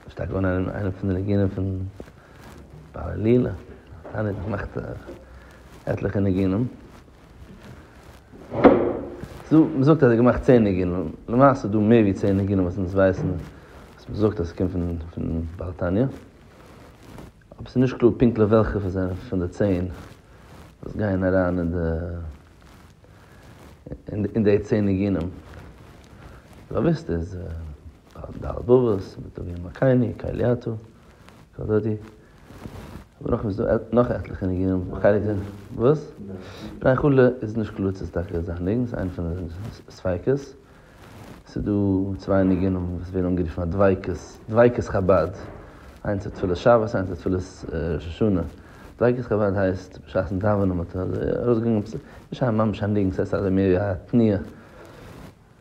איז שטארק געווארן איינע איינע פון די ניגונים פון בעל עלילה, דאן האט ער געמאכט עטליכע ניגונים, ס'דא מען זאגט אז ער האט געמאכט צען ניגונים, למעשה איז דא מער ווי צען ניגונים וואס אונז ווייסן וואס מען זאגט אז ס'קומט פון פון בעל תניא, אבער ס'איז נישט קלאר פונקטליך וועלכע פון זיינע פון די צען וואס גייען אריין אין די אין די צען ניגונים, באוויסט איז. הרב דארט בובוס, מיט טוביה מקייני, קהליאתו, קול דודי, און נאך איז דא נאך עטליכע ניגונים, חלק זענען וואס? בני חו ל איז נישט קלאר צו ס'איז טאקע זיין ניגון, ס'איז איינע פון די ספיקות, ס'איז דא צוויי ניגונים וואס ווערן אנגערופן א דביקות, דביקות חבד, איינס איז תפלת שבת איינס איז תפלת ראש השנה, דביקות חבד הייסט בשעת'ן דאווענען מ'האט אזוי ארויסגעגאנגען עפעס, נישט ממש א ניגון ס'הייסט אזוי מער ווי א תנועה.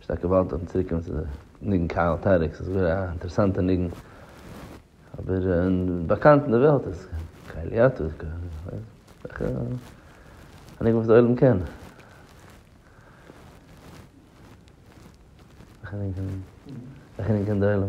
שטארקע וואלט אויפן צוריק קומען צו די ניגון קהל טערק, ס'איז גאר א אינטערעסאנטע ניגון, אבער באקאנט אין די וועלט איז קהלי אתא, וועלכע א ניגון וואס די עולם קען. וועלכע ניגון קען די עולם?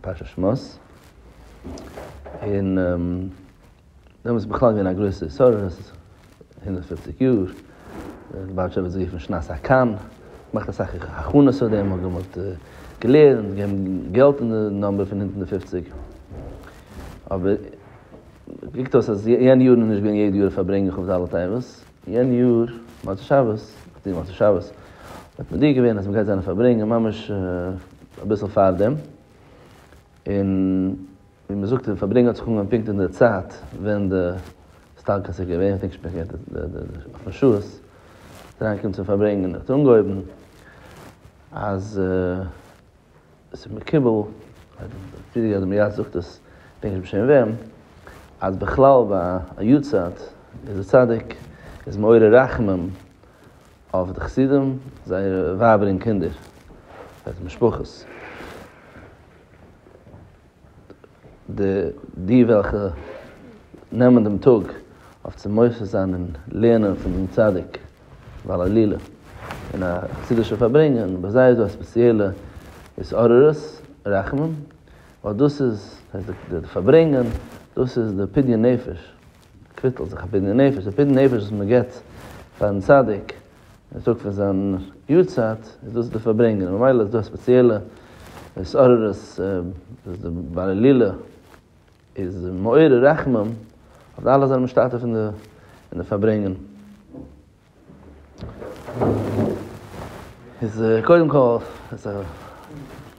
פרשת שמות, און דעמאלטס איז בכלל געווען א גרויסע סערה, עס איז הונדערט פֿופֿציק יאר, לובאוויטשער האט עס גערופן שנת הקן, געמאכט אסאך הכנות אויף דעם, האט געמאלט געלערנט, געגעבן געלט אין די נומבער פון הונדערט און פֿופֿציק, אבער קוקט אויס אז יענע יארן איז נישט געווען יעדע יאר פארברענג איך אויף ד' טבת. יענע יאר מוצאי שבת, כ'טוה מוצאי שבת, האט מען דיר געווען אז מ'גייט זיין פארברענגען ממש אביסל פארדעם, און ווי מ'זאגט די פארברענגען האט זיך אנגעהויבן פונקט אין די צייט ווען די סטארקעסט איז געווען, כ'דענק נישט פונקט אויפן שעות איז אריינגעקומען צום פארברענגען, האט אנגעהויבן אז. ס'איז מקובל, די אדמו ר זאגט עס, כ'דענק נישט בשם וועם, אז בכלל ביי א יארצייט איז די צדיק איז מעורר רחמים אויף די חסידים, זייערע ווייבער און קינדער, זייערע משפחות. די וועלכע נעמען דעם טאג אויף צו מוסיף זיין און לערנען פון דעם צדיק בעל עלילה אין א חסידישע פארברענגען, ביי זיי איז דא א ספעציעלע התעוררות רחמים, ווייל דאס איז, דאס איז די פארברענגען, דאס איז די פדיון נפש. קוויטל זיך א פדיון נפש, די פדיון נפש וואס מען געבט פארן צדיק און טאג פון זיין יארצייט איז דאס די פארברענגען, ממילא איז דא א ספעציעלע התעוררות וואס די בעל הילולא איז מעורר רחמים אויף די אלע וואס זענען משתתף אין די פארברענגען. איז קודם כל, איז א,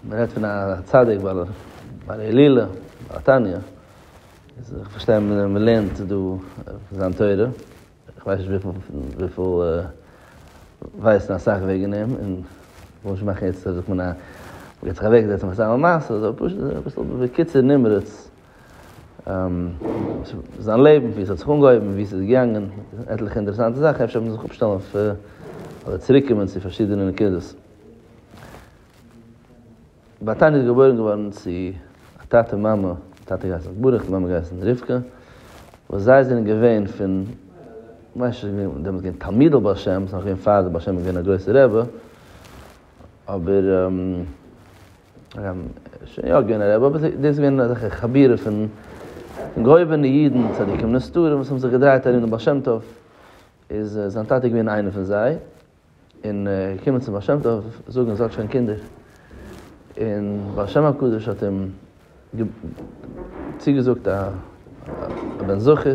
מען רעדט פון א צדיק בעל עלילה, בעל תניא, איז איך פארשטיי מען לערנט דא זיין תורה, איך ווייס נישט וויפיל ווייסן אסאך וועגן אים, און איך וויל נישט מאכן יעצט זאגט מען א, מען גייט זיך אוועקזעצן מיט סתם א מעשה, אזוי פשוט, אביסל בקיצור נמרץ, זיין לעבן, ווי עס האט זיך אנגעהויבן, ווי עס איז געגאנגען, עטליכע אינטערעסאנטע זאכן, אפשר מוז איך אפשטעלן אויף, אדער צוריק קומען צו פארשידענע נקודות. באטאני איז געבוירן געווארן צו א טאטע און מאמע, דער טאטע האט געהייסן ברוך, די מאמע האט געהייסן רבקה, וואס זיי זענען געווען פון, כ'מיין שוין געווען, דעמאלטס געווען תלמידי בעל שם, ס'איז נאך געווען פאר די בעל שם איז געווען א גרויסע רבי, אבער שוין יא געווען א רבי, אבער דאס איז געווען אזעלכע חבירים פון געהויבענע אידן, צדיקים נסתרים וואס האבן זיך געדרייט ארום דעם בעל שם טוב, איז זיין טאטע געווען איינער פון זיי, און ער איז געקומען צום בעל שם טוב זאגן אז ער האט שוין קינדער, און בעל שם הקדוש האט אים צוגעזאגט א בן זכר.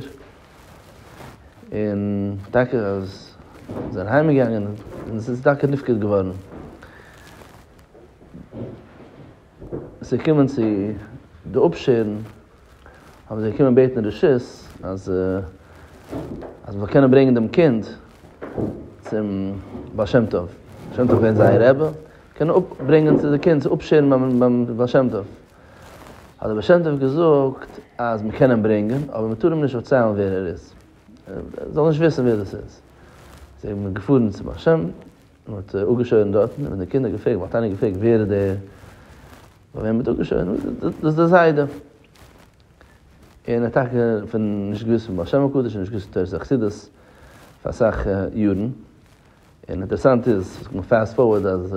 און טאקע אז זיי זענען אהיים געגאנגען און עס איז טאקע נפקד געווארן צו קומען צו די אפשערן האבן זיי געקומען בעטן רשות אז אז מ'זאל קענען ברענגען דעם קינד צום בעל שם טוב, בעל שם טוב איז געווען זייער רבי, קענען אפברענגען די קינד צו אפשערן ביים בעל שם טוב. האט דער בעל שם טוב געזאגט אז מ'קען אים ברענגען, אבער מ'טאר אים נישט דערציילן ווער ער איז, ער זאל נישט וויסן ווער דאס איז. זיי זענען געפארן צום בעל שם, מען האט אפגעשוירן דארטן, און ווען די קינדער האבן געפרעגט, וואלט איינער געפרעגט ווער איז דער ביי וועם מען האט אפגעשוירן, זאגט ער, דאס איז דער זיידע. און ער האט טאקע פון נישט געוואוסט פון בעל שם הקדוש, נישט געוואוסט פון תורת החסידות פאר אסאך יארן, און אינטערעסאנט איז, מ'קען פעסט פארווארד אז.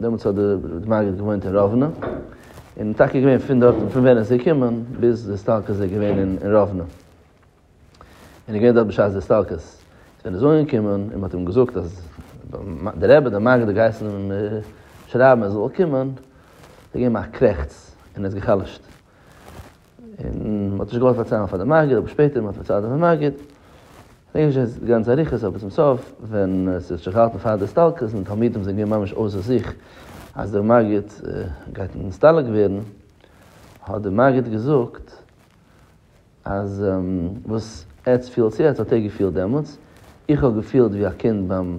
דעמאלטס האט די מגיד געוואוינט אין ראוונע, און טאקע געווען פון דארט פון ווען ער איז געקומען ביז די הסתלקות איז ער געווען אין ראוונע, און איז געווען דארט בשעת די הסתלקות, איז ווען ער איז אנגעקומען און מען האט אים געזאגט אז די רבי די מגיד האט געהייסן אים שרייבן ער זאל קומען, האט ער געגעבן א קרעכץ און איז גע'חלש'ט. און מ'האט נישט געוואלט פארציילן פאר די מגיד, אבער שפעטער מ'האט פארציילט דעם מגיד, כ'דענק נישט יעצט די גאנצע אריכות, אבער צום סוף ווען ס'האט זיך געהאלטן פאר די הסתלקות און די תלמידים זענען געווען ממש אויסער זיך אז דער מגיד גייט נסתלק ווערן, האט דער מגיד געזאגט אז וואס עטס פילטס יעצט האט ער געפילט דעמאלטס, איך האב געפילט ווי א קינד ביים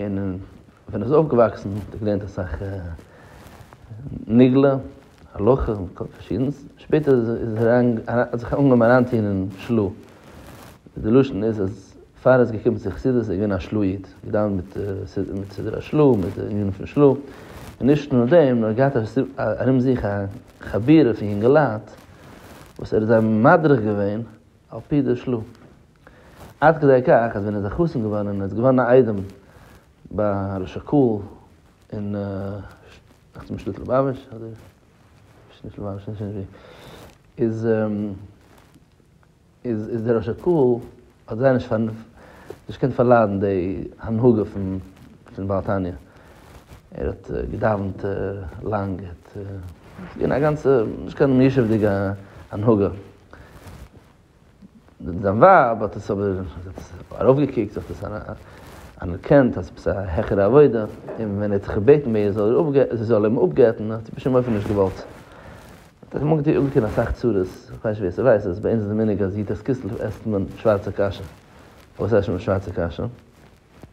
און ווען ער איז אויפגעוואקסן האט ער געלערנט אסאך נגלה, הלכה און כל פארשידנס, שפעטער איז ער איז ער אריין אריין האט זיך אנגעהויבן אריינטוהן אין של ה, די לשון איז אז פאר ער איז געקומען צו חסידות איז ער געווען א של ה איד, געדאווענט מיט מיט סידור השל ה, מיט די ענינים פון של ה, און נישט נאר דעם נאר געהאט ארום זיך א חבורה פון יונגעלייט וואס ער האט זיי מדריך געווען על פי די של ה. עד כדי כך אז ווען ער איז א חתן געווארן און ער איז געווארן א איידעם ביי הרב שקאל אין דאכט זיך שליט ליבאוויטש אדער שליט ליבאוויטש איך ווייס נישט ווי איז איז איז דער רב שקאל האט זייער נישט נישט געקענט פארליידן די הנהגה פון פון בעל תניא ער האט געדאווענט לאנג ער האט ס'איז געווען א גאנצע נישט קיין מיושב'דיגע הנהגה. זיין ווייב האט עס אבער ארויפגעקוקט, זי האט עס אנערקענט אז עפעס א העכערע עבודה, און ווען ער האט זיך געבעטן ביי איר זי זאל אים אפגט'ן האט זי בשום אופן נישט געוואלט. האט עס מגדיר אנגעטון אסאך צרות, כ'ווייס נישט ווער ס'ווייסט אז ביי אונז איז די מנהג אז יו ט כסלו עסט מען שווארצע קאשע, וואס הייסט שוין שווארצע קאשע?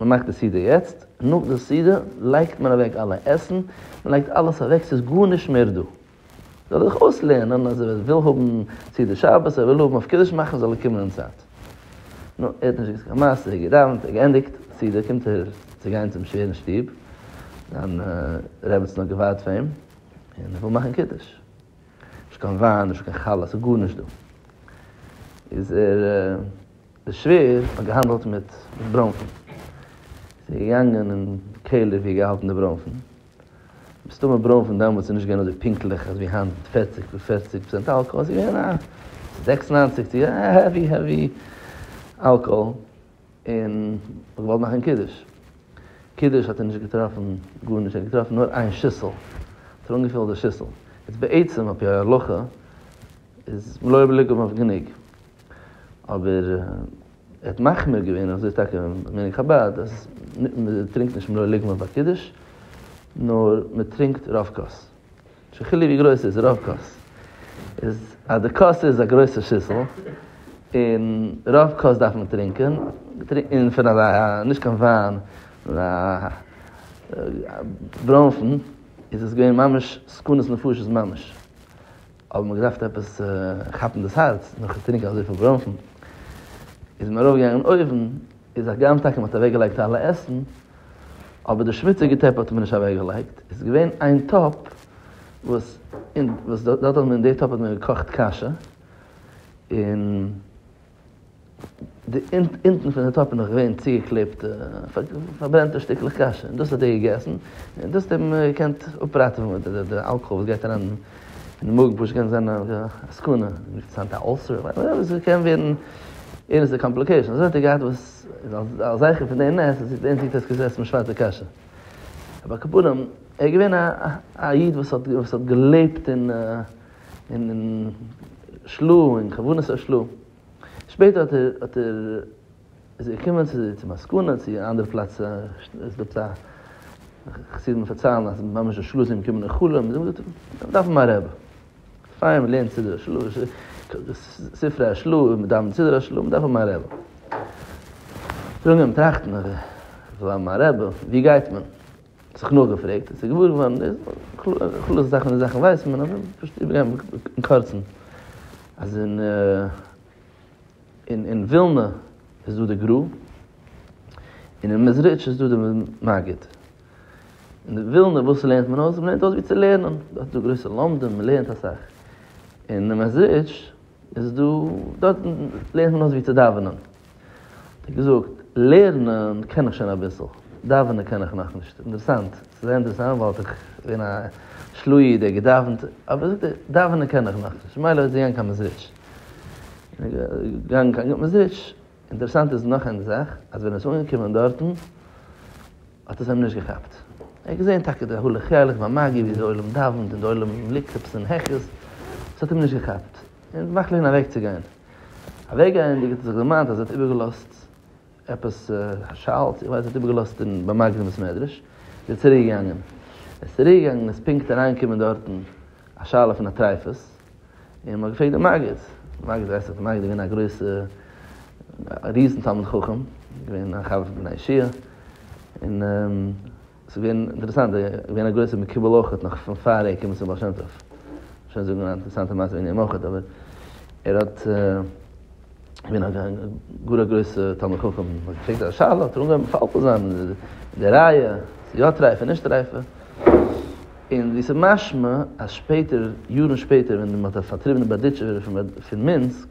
מען מאכט די סעודה יעצט, נאך די סעודה לייגט מען אוועק אלע עסן, מען לייגט אלעס אוועק, ס'איז גארנישט מער דא. זאל ער זיך אויסלערנען אז ער וויל האבן סעודת שבת, ער וויל האבן אויף קידוש מאכן זאל ער קומען אין צייט. נו, ער האט נישט געזאגט קיין מעשה, ער האט געדאווענט, ער האט געענדיגט סעודה, קומט ער צו גיין צום שווערן שטוב, זיין רעבעצן האט געווארט פאר אים, און ער וויל מאכן קידוש. נישט קיין וויין, נישט קיין חלה, ס'איז גארנישט דא. איז ער. די שווער האט געהאנדלט מיט ברוינפן, זי איז געגאנגען אין קעלער ווי געהאלטן די ברוינפן, מסתמא ברוינפן דאמאלטס איז נישט געווען אזוי פונקטליך ווי היינט פערציג פערציג פראצענט אלקאהאל, ס'איז געווען א זעקס ניינציג צו א העווי העווי אלקאהאל, און האט געוואלט מאכן קידוש, קידוש האט ער נישט געטראפן גארנישט, ער האט געטראפן נאר איין שיסל, האט ער אנגעפילט די שיסל, איז בעצם על פי ההלכה איז מלא בלי לגמור גענוג. אבער ער האט מחמיר געווען, אזוי איז טאקע מנהג חבד, אז מ'טרינקט נישט מלא לגמא ביי קידוש, נאר מ'טרינקט רוב כוס. נישט קיין חילוק ווי גרויס ס'איז, רוב כוס. איז אז די כוס איז א גרויסע שיסל, און רוב כוס דארף מען טרינקען, און פון אזא, נישט קיין וויין, נאר א ברוינפן, איז עס געווען ממש סכנת נפשות ממש. האב מיר געדארפט עפעס כאפן דאס הארץ נאך צו טרינקען אזויפיל בראנפן, איז מען ארויפגעגאנגען אין אויוון, איז הגם טאקע מען האט אוועקגעלייגט אלע עסן, אבער די שמוציגע טעפ האט מען נישט אוועקגעלייגט, עס איז געווען איין טאפ וואס אין וואס דארט האט מען אין די טאפ האט מען געקאכט קאשע, און. די אונטן פון די טאפ איז נאך געווען צוגעקלעבט פארברענטע שטיקלעך קאשע, און דאס האט ער געגעסן, און דאס האט אים געקענט אפראטעווען, די אלקאהאל וואס גייט אריין אין מאגן פשוט קען זיין א סכנה, אינטערעסאנט א אולסער, וואטעווער, עס קען ווערן ערנסטע קאמפליקעישאנס, אזוי האט ער געהאט וואס אלס זכר פון די נס, זעט אונז יעצט ער האט געגעסן שווארצע קאשע, אבער על כל פנים ער איז געווען א איד וואס האט געלעבט אין. און של ל און כוונת הש ל, שפעטער האט ער האט ער איז ער געקומען צו צו מסקנא צו אן אנדערע פלאץ עס דא צו חסידים פארציילן אז ממש די של ל איז אים געקומען אין חלום און זאגט מיר דארפן א רב פאר מען לערנט סידור הש ל ספרי הש ל און מען דאווענט סידור הש ל מען דארף האבן א רב זאגן אים טראכטן אז מיר ווילן האבן א רב ווי גייט מען? זיך נאכגעפרעגט און ס'איז געוואר געווארן די כלל'ס זאכן די זאכן ווייסט מען אבער פשוט איבערגיין אין קורצן אז אין אין ווילנע איז דא די גרא און אין מעזריטש איז דא די מגיד און די ווילנע וואס לערנט מען אויס? מ'לערנט אויס ווי צו לערנען דארט איז דא גרויסע לומדים מ'לערנט אסאך און אין מעזריטש איז דא דארט לערנט מען אויס ווי צו דאווענען. האט ער געזאגט, לערנען קען איך שוין אביסל, דאווענען קען איך נאכנישט. אינטערעסאנט, ס'איז זייער אינטערעסאנט ווייל האט ער געווען א של ה איד, ער האט געדאווענט, אבער זאגט ער, דאווענען קען איך נאכנישט. ממילא איז ער געגאנגען קיין מעזריטש. און ער איז געגאנגען קיין גוט מעזריטש. אינטערעסאנט איז נאך איין זאך, אז ווען ער איז אנגעקומען דארטן, האט עס אים נישט געכאפט. ער האט געזען טאקע די הל' חלק ביי מגיד, ווי די עולם דאווענט און די עולם ליגט עפעס אין העכערס, ס'האט אים נישט געכאפט. און מאכט לענ אוועק צו גיין. אוועק גייענדיג האט ער זיך דערמאנט אז ער האט איבער געלאזט עפעס א שאלטץ, איך ווייס ער האט איבער געלאזט אין ביים מגן בית מדרש, איז ער צוריק געגאנגען. ער איז צוריק געגאנגען איז פונקט אריין געקומען דארטן א שאלה פון א טרייפות, און מען האט געפרעגט דעם מגיד, דער מגיד ווייסט דאך, דער מגיד איז געווען א גרויסע א ריזן תלמיד חכם, געווען א חבר פון בני אישי, און. ס'איז געווען אינטערעסאנט, ער איז געווען א גרויסער מקובל אויכעט נאך פון פאר ער איז געקומען צום בעל שם טוב. שוין זאגן א אינטערעסאנטע מעשה וועגן אים אויכעט, אבער ער האט געווען א גאר א גרויסע תלמיד חכם, מען האט געפרעגט א שאלה האט ער אנגעהויבן מפלפל זיין אין די ראיה, איז יא טרייפה און נישט טרייפה, און ווי ס'איז משמע אז שפעטער, יארן שפעטער ווען מען האט פארטריבן די בארדיטשובער פון מינסק,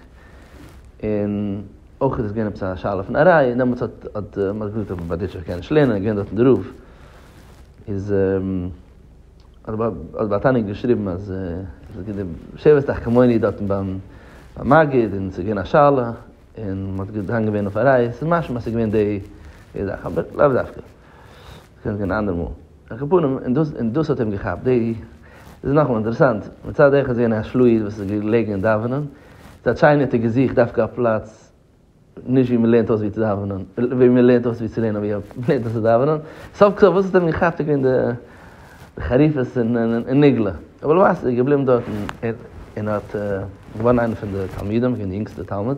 און. אויך איז עס געווען עפעס א שאלה פון א ראיה, און דעמאלטס האט האט מען געזאגט אז א בארדיטשעווער קען נישט לערנען, ער איז געווען דארטן דער רב, איז האט בר תניא געשריבן אז שבט תחכמוני דארטן ביים מגיד און עס איז געווען א שאלה און מען האט געדאנגען ווען אויף א ראיה, עס איז משמע אז עס איז געווען די זאך אבער לאו דווקא. קענסט גיין אנדערע מאל. על כל פנים, און דאס און דאס האט אים געכאפט די. דאס איז נאכאמאל אינטערעסאנט, מצד אחד איז געווען א שלוה איד וואס איז געלעגן אין דאווענען, מצד שני האט ער געזוכט דווקא א פלאץ נישט ווי מען לערנט אויס ווי צו דאווענען, ווי מען לערנט אויס ווי צו לערנען ווי מען לערנט אויס צו דאווענען. סוף כל סוף וואס האט אים געכאפט איז געווען די חריפות און נגלה. אבער למעשה איז ער געבליבן דארט און ער און ער האט געווארן איינער פון די תלמידים, געווען די יונגסטע תלמיד.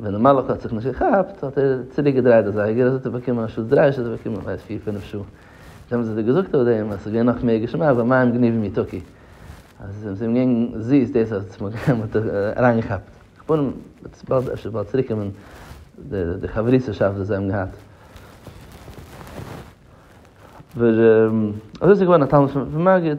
ווען דער מלאך האט זיך נישט געכאפט, האט ער צוריק געדרייט די זייגער, אזוי האט ער באקומען אנשטאט דריי שעה האט ער באקומען ווייס פיר פינף שעה. זיי האבן זיך דאך געזאגט אויף דעם אז עס איז געווען נאך מער געשמאק ווען מים גניבים יתוקי. אז עס איז אים געווען זיס דאס אז די מים האט ער אריינגעכאפט. כ'פארן וועט באלד אפשר באלד צוריק קומען די חברותא'שאפט וואס זיי האבן געהאט. אבער אזוי איז ער געווארן א תלמיד פון מגיד.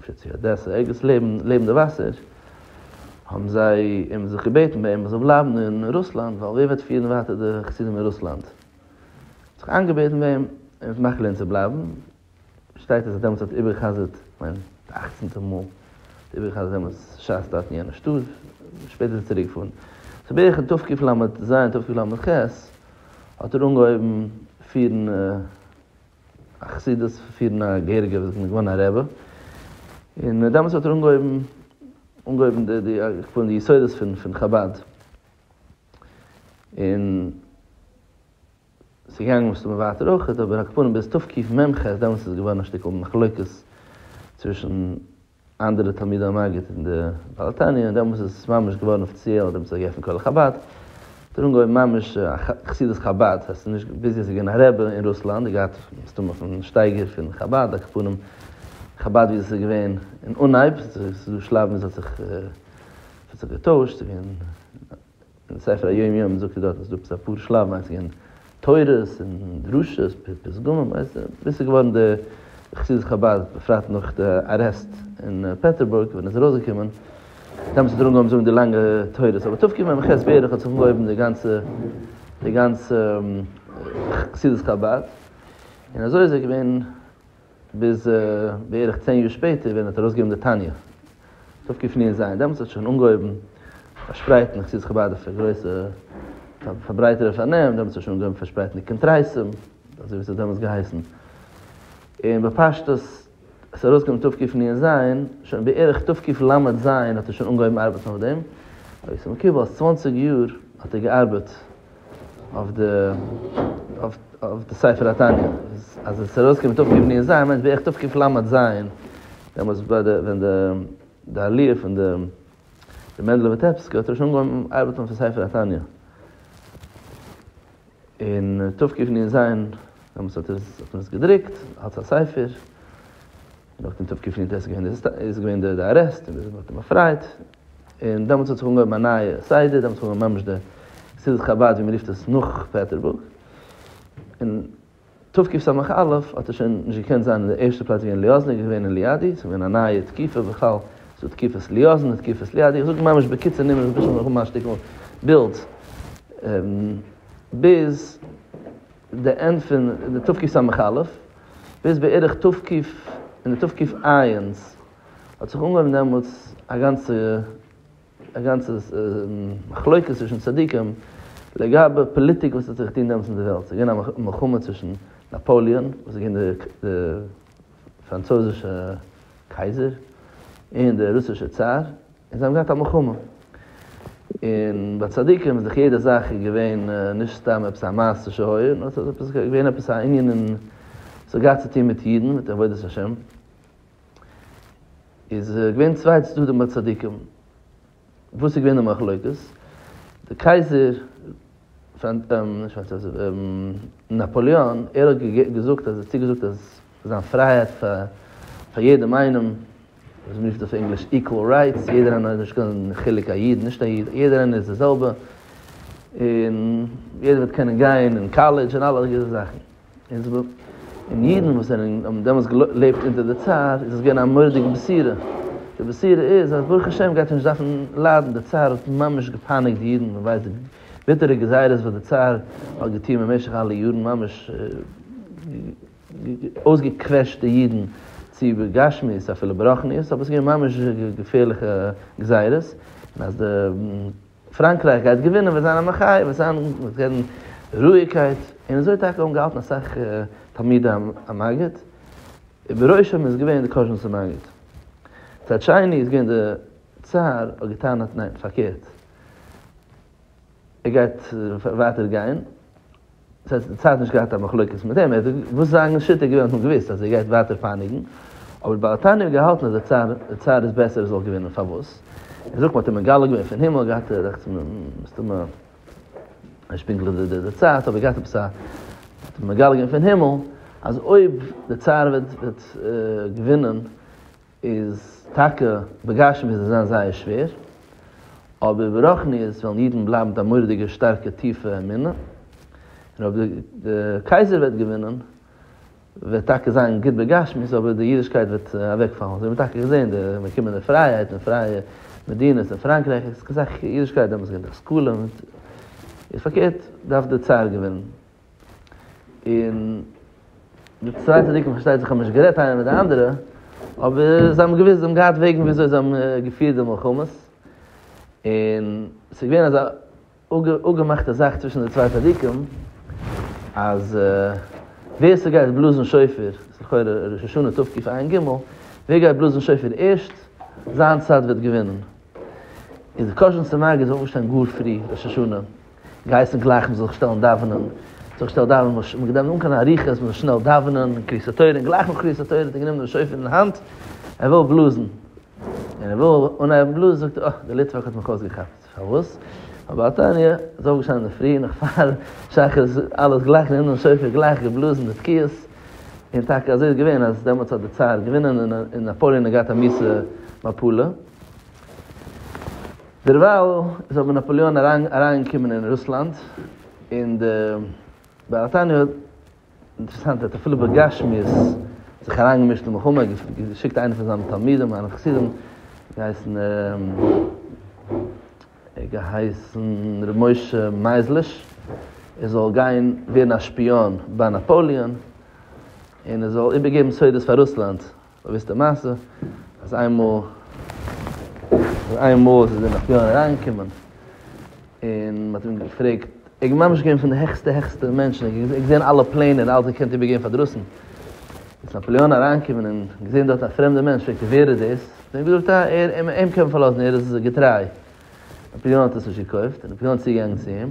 אפשר צו אדעסע, ערגעץ לעבן לעבן די וואסער, האבן זיי אים זיך געבעטן ביי אים ער זאל בלייבן אין רוסלאנד, ווייל ווער וועט פירן ווייטער די חסידים אין רוסלאנד? זיך איינגעבעטן ביי אים ער האט מאכט געלערנט צו בלייבן, שטייט אז ער דעמאלטס האט איבערגעחזרט, כ'מיין די אכצנטע מאל, האט ער איבערגעחזרט דעמאלטס שס דארט אין יענע שטאט, שפעטער איז ער צוריק געפארן. ס'איז בערך אין תקפ לז תקפ לז האט ער אנגעהויבן פירן. א חסידות פון פירן א געהעריגע וואס איז געווארן א רבי, און דעמאלטס האט ער אנגעהויבן אנגעהויבן די די איך קען די יסודות פון פון חבד, און ס'איז געגאנגען מסתמא ווייטער אויכעט, אבער על כל פנים ביז תקי מ ח דעמאלטס איז געווארן א שטיקל מחלוקת צווישן אנדערע תלמידי המגיד אין די בעל תניא, דעמאלס איז עס ממש געווארן אפיציעל, דעמאלס האט געעפנט כולל חבד, האט ער אנגעהויבן ממש חסידות חבד, ס'איז נישט, ביז יעצט איז געווען א רבי אין רוסלאנד, ער האט געהאט מסתמא פון שטייגער פון חבד, אקעפנים חבד ווי עס איז געווען אין אנהייב, ס'איז דא שלבים ווי עס האט זיך געטוישט, ס'איז געווען. אין ספר היום יום זאגט ער דארט אז דא אפאר שלב מיינט ס'געווען תורות און דרשות פסגומים ווייסט ווי ס'איז געווארן די חסידות חבד בפרט נאך די ארעסט אין פעטערבורג ווען עס איז ארויסגעקומען דעמאלטס איז ער אנגעהויבן זאגן די לאנגע תורות אבער תקי מ ח בערך האט זיך אנגעהויבן די גאנצע די גאנצע חסידות חבד און אזוי איז ער געווען ביז בערך צען יאר שפעטער ווען ער האט ארויסגעגעבן די תניא איז אויפגעפליען זיין דעמאלטס האט שוין אנגעהויבן פארשפרייטן די חסידות חבד אויף א גרויסע פארברייטערע פארנעם דעמאלטס האט שוין אנגעהויבן פארשפרייטן די קונטרסים אזוי ווי עס האט דעמאלטס געהייסן און בפשטות עס ארויסגעגעבן תו' קיף ני אין זיין שוין בערך תו' קיף ל ז האט ער שוין אנגעהויבן ארבעטן אויף דעם אויב איז מקובל אז צוואנציג יאר האט ער געארבעט. אויף די ספר התניא, אז עס איז ארויס געקומען תקפ ג ניסן מיינט בערך תקפ ל ז, דעמאלטס ביי די ווען די עליה פון די רבי מענדל וויטעפסקי האט ער שוין אנגעהויבן ארבעטן אויפן ספר התניא, און תקפ ג ניסן דעמאלטס האט מען עס געדרוקט אלץ א ספר, נאכדעם תקפ ג ניסן איז געווען די ארעסט און מען האט אים באפרייט. און דעמאלטס האט זיך אנגעהויבן א נייע סדר, דעמאלטס האט מען ממש די חסידות חבד ווי מ'רופט עס נאך פעטערבורג, און תוו ק סמך א' האט ער שוין נישט געקענט זיין אין די ערשטע פלאץ ווי אין ליאזן, ער איז געווען אין ליאדי, ס'איז געווען א נייע תקופה בכלל, ס'דא תקופת ליאזן און תקופת ליאדי, איך זאג ממש בקיצור נמרץ בשביל מיר האבן א שטיקל בילד, ביז די ענד פון די תוו ק סמך א', ביז בערך תוו ק, אין די תוו ק עיינ'ס האט זיך אנגעהויבן דעמאלטס א גאנצע א גאנצע מחלוקת צווישן צדיקים לגבי פאליטיק וואס האט זיך געטון דעמאלטס אין די וועלט, ס'איז געווען א מלחמה צווישן נאפאליאן וואס איז געווען די פראנצויזישע קייזער און די רוסישע צאר, און זיי האבן געהאט א מלחמה, און ביי צדיקים איז דאך יעדע זאך איז געווען נישט סתם עפעס א מעשה שהיה, נאר ס'איז געווען עפעס א ענין און ס'האט געהאט צו טון מיט אידן מיט עבודת השם. איז געווען צוויי צדדים ביי צדיקים, וואס איז געווען די מחלוקת? די קייזער, נישט פראנץ יאזעף, נאפאליאן, ער האט געזאגט אז ער האט צוגעזאגט אז זיין פרייהייט פאר יעדעם איינעם, ווי מען רופט אויף ענגליש equal rights, יעדער איינער האט נישט קיין חילוק א איד נישט א איד, יעדער איינער איז די זעלבע, און יעדער וועט קענען גיין אין קאלעדזש און אלע זאכן. און זאגט און אידן וואס זענען האבן דעמאלטס געלעבט אונטער די צאר איז עס געווען א מורא'דיגע בשורה, די בשורה איז אז ברוך השם גייט מען נישט דארפן ליידן, די צאר האט ממש געפייניגט די אידן, מען ווייסט די ביטערע גזירות וואס די צאר האט געטון במשך אלע יארן, ממש אויסגעקוועשט די אידן צו בגשמיות אפילו ברחניות, אבער עס איז געווען ממש געפערליכע גזירות, און אז די. פראנקרייך גייט געווינען וועט זיין א מחאה און וועט זיין וועט ווערן רואיגקייט און אזוי טאקע האבן געהאלטן אסאך תלמידי המגיד ובראשם איז געווען די קאזשניצער מגיד מצד שני איז געווען די צאר האט געטענהט ניין פארקערט ער גייט ווייטער גיין. דאס הייסט די צד נישט געהאט א מחלוקת מיט אים, וואס זיין שיטה געווען האט מען געוויסט אז ער גייט ווייטער פייניגן, אבער בעל התניא האט געהאלטן אז די צד איז בעסער ער זאל געווינען, פארוואס? ער זאגט מען האט אים מגלה געווען פון הימל, געהאט רעכטס מסתמא נישט פונקטליך די די צייט אבער געהאט עפעס א האט אים מגלה געווען פון הימל אז אויב די צד וועט געווינען, איז טאקע בגשמיות וועט עס זיין זייער שווער, אבער ברוחניות וועלן אידן בלייבן מיט א מורא'דיגע שטארקע טיפע אמונה, און אויב די קייזער וועט געווינען וועט טאקע זיין גוט בגשמיות אבער די אידישקייט וועט אוועקפאלן, אזוי האט מען טאקע געזען די אנגעקומענע פרייהייט און פרייע מדינות אין פראנקרייך איז אסאך אידישקייט דעמאלטס געווען די השכלה, און איז פארקערט דארף די צער געווינען. און די צוויי צדיקים פארשטייט זיך האבן נישט גערעדט איינער מיט די אנדערע, אבער זיי האבן געוואוסט, זיי האבן געהאט וועגן ווי אזוי זיי האבן געפירט די מלחמות, און עס איז געווען אזא אפגעמאכטע זאך צווישן די צוויי צדיקים, אז ווער ס'גייט בלאזן שופר, לכאורה ראש השנה תקפ א אין גימל, ווער גייט בלאזן שופר ערשט, זיין צד וועט געווינען. איז די קושן צום מגיד אויפגעשטאנען גאר פרי ראש השנה, גייסט נישט גלייך מ'זאל זיך שטעלן דאווענען, זיך שטעל דאווענען, מ'האט נישט געדאווענט אן קיין אריכות, מ'זאל שנעל דאווענען, קריאת התורה, און גלייך נאך קריאת התורה האט ער גענומען דעם שופר אין האנט, ער וויל בלאזן, און ער וויל אנהייבן בלאזן זאגט ער, אה, דער ליטוואק האט מיך אויסגעכאפט, פארוואס? ווייל ביי א תניא איז אויפגעשטאנען אינדערפרי נאך פאר שחרית אלעס גלייך גענומען דעם שופר גלייך געבלאזן די תקיעות, און טאקע אזוי איז געווען אז דעמאלטס האט די צאר געווינען און נאפאליען האט געהאט א מיסע מפלה, דערווייל איז אבער נאפאליאן אריינגעקומען אין רוסלאנד, און די בריטאניע האט, אינטערעסאנט, האט אפילו בגשמיות זיך אריינגעמישט אין מלחמה, געשיקט איינע פון זיינע תלמידים, זיינע חסידים, געהייסן געהייסן ר' משה מייזליש, ער זאל גיין ווערן א שפיאן ביי נאפאליאן, און ער זאל איבערגעבן סודות פאר רוסלאנד. באוויסטע מעשה אז איינמאל אז איינמאל איז דער נאפיאן אריינגעקומען און מען האט אים געפרעגט ער איז ממש געווען פון די העכסטע העכסטע מענטשן ער האט געזען אלע פלענער און אלעס געקענט איבערגעבן פאר דרויסן איז נאפליאן אריינגעקומען און געזען דארט א פרעמדע מענטש פרעגט ער ווער איז דאס האט ער אים געזאגט אה ער אים קען מען פארלאזן ער איז געטריי נאפליאן האט עס נישט געקויפט איז נאפליאן צוגעגאנגען צו אים.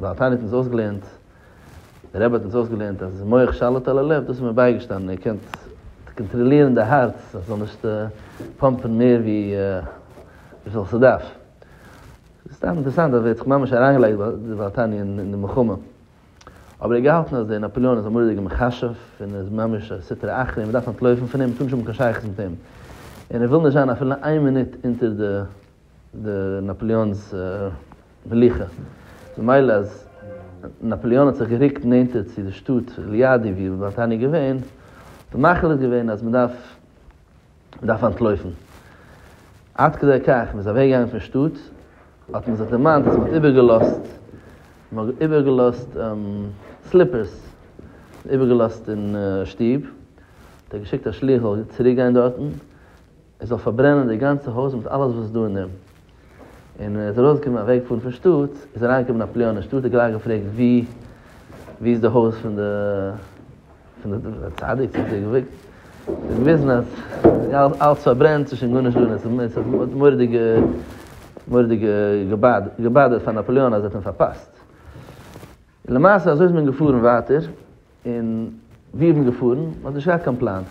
ווייל תענית האט אונז אויסגעלערנט, דער רבי האט אונז אויסגעלערנט אז מח שליט על הלב, דאס איז מיר בייגעשטאנען, איר קענט קאנטראלירן די הארץ אז ס'זאל נישט פאמפן מער ווי וויפיל ס'דארף. סתם אינטערעסאנט אז ער האט זיך ממש אריינגעלייגט דבר תעניא אין די מלחמה. אבער ער האט געהאלטן אז דער נאפאליאן איז א מורא'דיגער מכשף, און איז ממש א סטרא אחרא, און מ'דארף אנטלויפן פון אים, מ'טאר נישט האבן קיין שייכות מיט אים. און ער וויל נישט זיין אפילו איין מינוט אונטער די די נאפליאן'ס מלוכה, ממילא אז נאפליאן האט זיך גערוקט נענטער צו די שטאט ליאדי ווי בארטאן איז געווען, האט ער מחליט געווען אז מען דארף מען דארף אנטלויפן, עד כדי כך מען איז אוועק געגאנגען פון שטאט, האט מען זיך דערמאנט אז מען האט איבער געלאזט, מען האט איבער געלאזט סליפערס, איבער געלאזט אין שטוב, האט ער געשיקט א שליח זאל צוריק גיין דארטן, ער זאל פארברענען די גאנצע הויז מיט אלעס וואס איז דא אין אים, און ער איז ארויסגעקומען אוועק פארן פון שטאט, איז אריינגעקומען א פליאן אין שטאט, האט גלייך געפרעגט ווי ווי איז די הויז פון די פון די די צדיק, האט ער געוואגט, ער האט געוויזן אז ס'איז אלץ פארברענט, ס'איז שוין גארנישט דא, און עס האט האט מורא'דיג מורא'דיג געבאדערט פאר נאפאליאן אז ער האט אים פארפאסט. און למעשה אזוי איז מען געפארן ווייטער, און ווי איז מען געפארן? מען האט נישט געהאט קיין פלאן,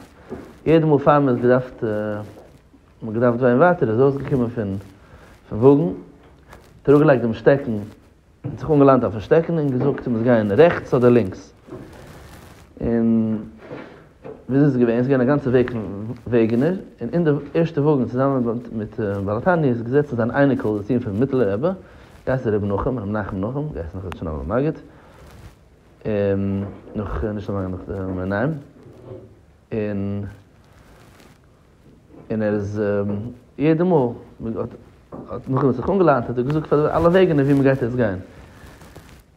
יעדע מאל פאר מען איז געדארפט, מען האט געדארפט גיין ווייטער איז ארויסגעקומען פון וואגן, האט אראפגעלייגט דעם שטעקן, האט זיך אנגעלאנט אויפן שטעקן און געזאגט מען מוז גיין רעכטס אדער לינקס, און ווי אזוי איז עס געווען? עס איז געווען א גאנצע וועג פון וועגענער, און אין די ערשטע וואגן צוזאמען מיט בעל התניא איז געזעצן זיין אייניקל דער זון פון מיטעלע רבי, געהייסן רבי נחום, רבי נחום נחום, געהייסן נאך רבי שלום המגיד, און נאך נישט אזוי לאנג נאך מער ניין, און און ער איז יעדע מאל האט נחום זיך אנגעלאדענט האט ער געזאגט פאר די אלע וועגענער ווי מען גייט יעצט גיין.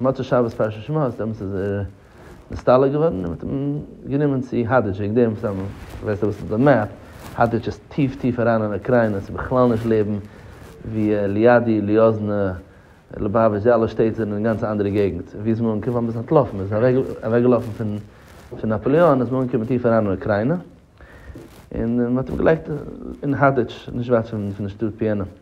מוצאי שבת פרשת שמות איז דעמאלטס איז ער נסתלק געווארן און מען האט אים גענומען צו האדערטש וועגן דעם סתם כ'ווייס נישט וואס איז די מעפ, האדערטש איז טיף טיף אריין אין אוקריינע ס'איז בכלל נישט לעבן ווי ליאדי, ליאזנע, ליובאוויטש די אלע שטעט זענען אין גאנץ א אנדערע געגנט ווי איז מען אנגעקומען פארוואס איז מען אנטלאפן מען איז אוועק געלאפן פון נאפאליאן איז מען אנגעקומען טיף אריין אין אוקריינע און מען האט אים געלייגט אין האדערטש נישט ווייט פון די שטאט פיענא.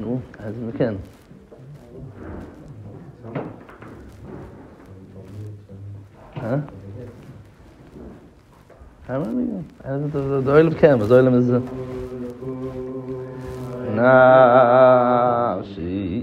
נו, אז מ'קען. אה? די עולם קען וואס די עולם איז נפשי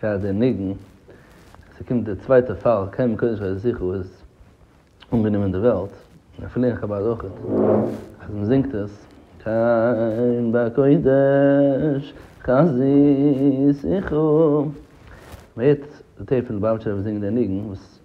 פאר די ניגון אז ס'קומט די צווייטע פאל קען מען קודם שוין זיכער איז אנגענומען די וועלט און אפילו אין חבד אויך אז מ'זינגט עס קיין בקודש חזית איכה מ'הערט די טעיפ פון די באבטשער וואס זינגען די ניגון וואס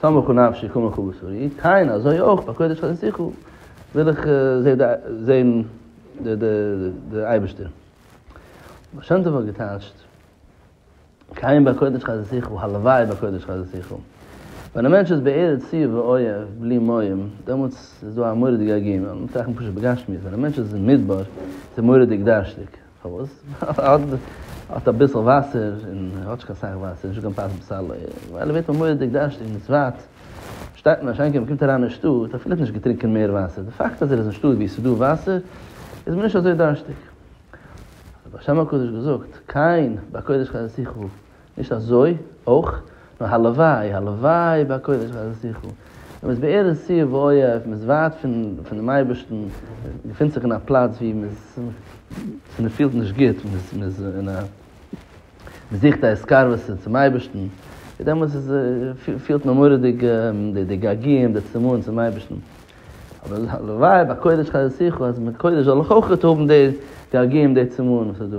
סמוך הוא נפשי כמוך הוא בשרי, כהנה אזוי אויך ביי קודש חנותיך וויל איך זעהן די אייבערשטער. הבעל שם טוב האט געטייטשט, כהנה ביי קודש חנותיך, הלוואי ביי קודש חנותיך. ווען א מענטש איז בערב צוה ואוהב בלי מים, דעמאלטס איז דא א מורא'דיגע עגונה, מ'טראכט פשוט בגשמיות, ווען א מענטש איז אין מדבר איז ער מורא'דיג דארשטיג. פארוואס? האט אביסל וואסער, און האט נישט קיין סאך וואסער, נישט גענוג פת לבשרו, ווייל ער ווערט ממויד'דיג דארשטיג און סוואט, שטייט אין א שיינקייט מען קומט אריין אין שטאט, האט ער פילעפ נישט געטרינקען מער וואסער, די פאקט אז ער איז אין שטאט ווי עס איז דא וואסער, איז מען נישט אזוי דארשטיג. האט די בעל שם הקדוש געזאגט, קיין, בקודש חזותיך הוא, נישט אזוי אויך, נאר הלוואי, הלוואי ביי קודש חזרת יחו. ווען מען איז בארץ צו ובאוהב, מען איז ווייט פונעם אייבערשטן, מען געפינט זיך אין א פלאץ ווי מען פילט נישט גוט, מען זוכט א התקרבות צום אייבערשטן, דעמאלטס פילט מען מורא'דיג די געגועים, די צמאון צום אייבערשטן. אבער הלוואי ביי קודש חזרת יחו, אז מיט קודש זאל איך אויך האבן די געגועים, די צמאון וואס איז דא.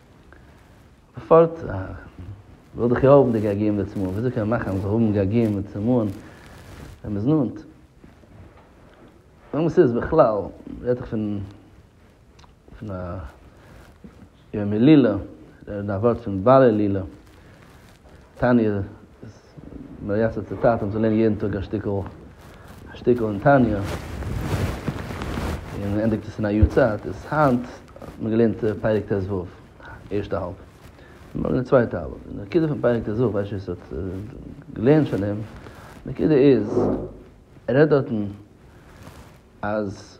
פארט וויל דאך יא האבן די געגועים לצמאון, וויאזוי קען מען מאכן אז מ'זאל האבן געגועים לצמאון ווען מ'איז נאנט? ווען ס'איז בכלל, רעדט זיך פון פון א יום הילולא, א ווארט פון בעל הילולא. תניא איז מייסד צו טאטען צו לערנען יעדן טאג א שטיקל א שטיקל אין תניא, און מען ענדיגט עס אין א יאר צייט, איז היינט האט מען געלערנט פרק ט ו ערשטע האלב, מארגן די צווייטע האלב, און די נקודה פון פרק ט ו, איך ווייס נישט ווער עס האט געלערנט שוין אים, נקודה איז, ער רעדט דארטן אז.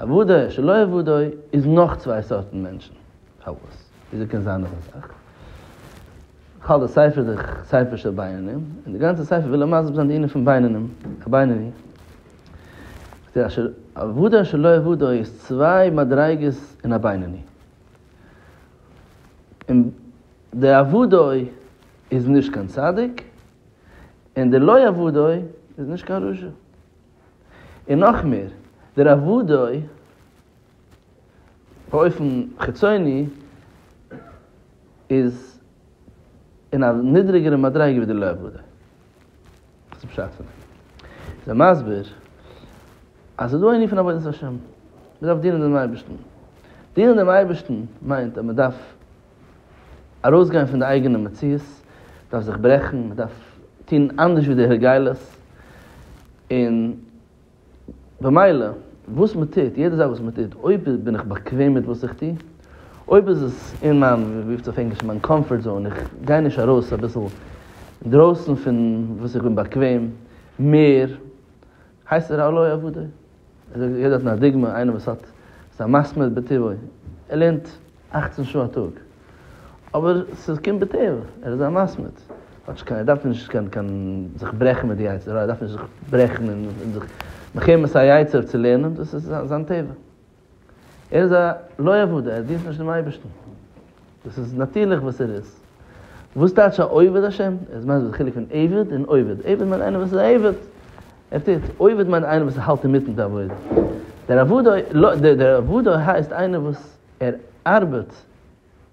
אוודאי שלא אוודאי איז נאך צוויי סארטן מענטשן. פארוואס? וויאזוי קען זיין אזא זאך? כ'האלט די ספר איז דער ספר של בינונים, און די גאנצע ספר וויל ער מסביר זיין די ענין פון בינונים, א בינוני. אוודאי שלא אוודאי איז צוויי מדריגות אין א בינוני. און די אוודאי איז נישט קיין צדיק, און די לא אוודאי איז נישט קיין רשע. און נאך מער, דער אוודאי באופן חיצוני איז אין א נידריגערע מדריגה ווי דער לא אוודאי. וואס איז פשט פון דעם? איז ער מסביר אז ס'איז דא א ענין פון עבודת השם, מ'דארף דינען דעם אייבערשטן. דינען דעם אייבערשטן מיינט אז מ'דארף. ארויסגיין פון די אייגענע מציאות, מ'דארף זיך ברעכן, מ'דארף טון אנדערש ווי די הרגלות, און במילא וואס מ'טוט, יעדע זאך וואס מ'טוט, אויב בין איך באקוועם מיט וואס איך טו, אויב איז עס אין מיין, ווי רופט עס אויף ענגליש, מיין קאמפארט זאון, איך גיי נישט ארויס אביסל אינדרויסן פון וואס איך בין באקוועם, מער הייסט ער א לא יעבוד? ער זאגט יעדער האט א דוגמא, איינער וואס האט איז א מסמר בטבעו, ער לערנט אַכצן שעה א טאג, אבער ס'קומט בטבע, ער איז א מסמר, כאטש קיין ער דארף נישט קיין קיין זיך ברעכן מיט די יצר הרע, ער דארף נישט זיך ברעכן און זיך מחמת א יצר צו לערנען, דאס איז זיין טבע. ער איז א לא עבודה, ער דינט נישט דעם אייבערשטן. דאס איז נאטירליך וואס ער איז. וואס טייטש א עובד השם? עס מיינט די חילוק פון עבד און עובד. עבד מיינט איינער וואס איז א עבד, ער טוט. עובד מיינט איינער וואס האלט אינמיטן די עבודה. דער עבודה, דער עבודה הייסט איינער וואס ער ארבעט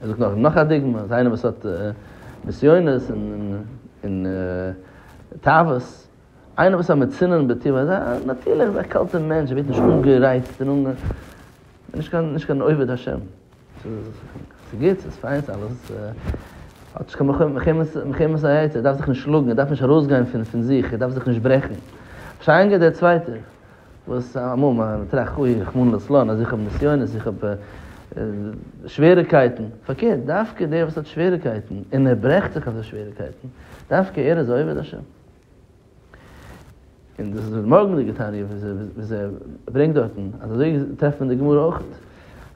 ער זאגט נאך נאך א דוגמא, אז איינער וואס האט נסיונות און תאוות, איינער וואס א מצונן בטבעו, אזא נאטירליך אזא קאלטע מענטש, ער ווערט נישט אנגערייצט און נישט קיין עובד השם, ס'איז גוט, ס'איז פיין, ס'איז אלעס, האט נישט קיין מלחמת היצר, ער דארף זיך נישט שלאגן, ער דארף נישט ארויסגיין פון זיך, ער דארף זיך נישט ברעכן, אפשר ענגערט דער צווייטער. וואס אמאל מען טראכט אוי רחמנא לצלן אז איך האב נסיונות איך האב שוועריקייטן, פארקערט דווקא דער וואס האט שוועריקייטן און ער ברעכט זיך אויף די שוועריקייטן דווקא ער איז עובד השם. און דאס איז די מארגנדיגע תניא וואס ער ברענגט דארטן אז אזוי טרעפט מען די גמרא אויך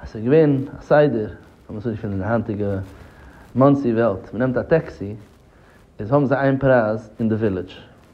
אז ס'איז געווען א סדר לאז מיר זאגן אין די היינטיגע מאנסי וועלט מ'נעמט א טעקסי איז האבן זיי איין פרייז אין די ווילעדזש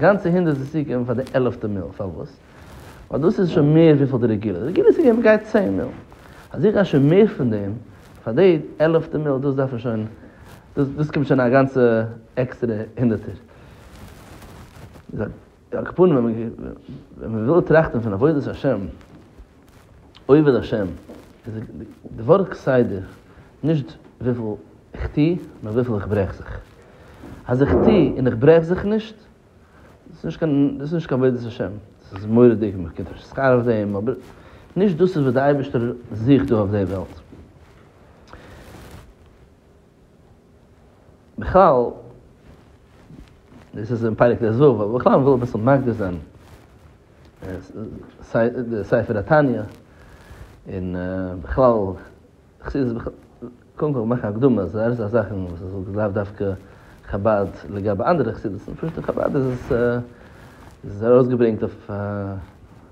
גאנצע הונדערט זיס צו געבן פאר די עלעפטע מיל, פארוואס? ווייל דאס איז שוין מער וויפיל די רגילה, די רגילה צו געבן גייט צען מיל, אז איך גיי שוין מער פון דעם פאר די עלעפטע מיל, דאס דארף מען שוין, דאס דאס קומט שוין א גאנצע עקסטערע הונדערטער. על כל פנים ווען מען וויל טראכטן פון עבודת השם. עובד השם, איז די ווארט כסדר נישט וויפיל איך טו, נאר וויפיל איך ברעך זיך. אז איך טו און איך ברעך זיך נישט, דאס איז נישט קיין עבודת השם, דאס איז מורא'דיג און מען באקומט נישט שכר אויף דעם, אבער נישט דאס איז וואס דער אייבערשטער זוכט דא אויף דער וועלט. בכלל, דאס איז אין פרק ט ז, אבער בכלל מ'וויל אביסל מקדים זיין די ספר התניא, און בכלל חסידות, קודם כל מאכן הקדמה אז דאס איז א זאך וואס איז לאו דווקא חבד לגבי אנדערע חסידות'ן, פשוט אין חבד איז עס ארויסגעברענגט אויף א.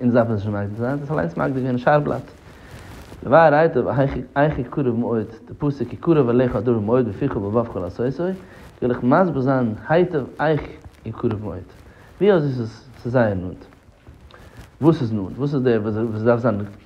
אונז דארף עס נישט מקדים זיין, האט עס אליינס מקדים געווען אין שער בלאט. די ווייער רייטע אייך כי קרוב מאוד די פסוק כי קרוב אליך הדבר מאוד בפיך ובלבבך לעשותו, וויל איך מסביר זיין היטב אייך כי קרוב מאוד. ווי אזוי ס'איז זייער נאנט. וואס איז נאנט? וואס איז דער וואס דארף זיין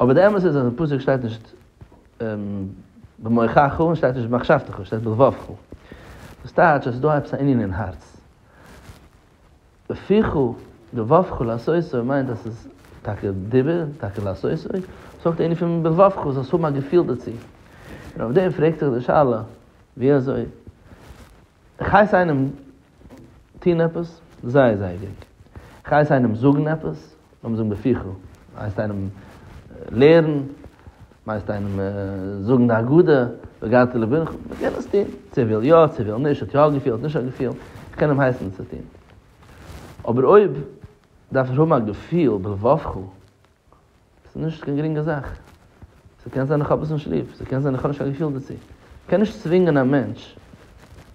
אבער די אמת איז אז אין פסוק שטייט נישט במוחך און שטייט נישט במחשבתך שטייט בלבבך דאס טייטש אז ס'דא עפעס א ענין אין הארץ. בפיך ובלבבך לעשותו מיינט אז ס'איז טאקע דיבור טאקע לעשותו, ס'אויך די ענין פון בלבבך זאלסט האבן א געפיל דערצו. און אויף דעם פרעגט זיך די שאלה ווי אזוי. כ'הייס איינעם טון עפעס? זייער זייער גרינג. כ'הייס איינעם זאגן עפעס? לאמיר זאגן בפיחא. מ'הייסט איינעם לערן? מ'הייסט איינעם זאגן די הגדה? והגדת לבנך? מ'קען עס טון. צו ער וויל יא, צו ער וויל נישט, האט יא א געפיל, האט נישט א געפיל, כ'קען אים הייסן עס צו טון. אבער אויב דארף ער האבן א געפיל בלבבך, ס'איז נישט קיין גרינגע זאך. ס'קען זיין איך האב עס נישט ליב, ס'קען זיין איך האב נישט קיין געפיל דערצו. מ'קען נישט צווינגען א מענטש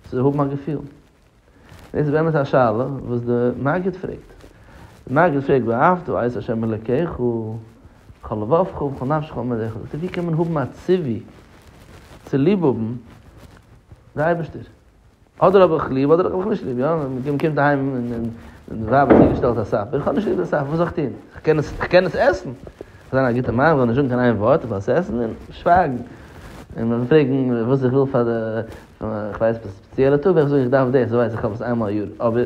צו האבן א געפיל. דאס איז באמת א שאלה וואס די מגיד פרעגט. די מגיד פרעגט ואהבת את ה' אלקיך בכל לבבך ובכל נפשך ובכל מאדיך. זאגט ער ווי קען מען האבן א ציווי צו ליב האבן די אייבערשטער? אדער האב איך ליב אדער האב איך נישט ליב, יא? מען קומט אהיים און די ווייב האט צוגעשטעלט א סאפער, איך האב נישט ליב די סאפער, וואס זאל איך טון? איך קען עס, איך קען עס עסן! איך זיין א גוטע מאן, איך זאל נישט זאגן קיין איין ווארט, איך זאל עס עסן און שווייגן. און מען זאל פרעגן וואס איך וויל פאר די, איך ווייס, ספעציעלע טאג ווען איך זאג איך דארף דאס, ווייס איך, איך האב עס איינמאל א יאר, אבער.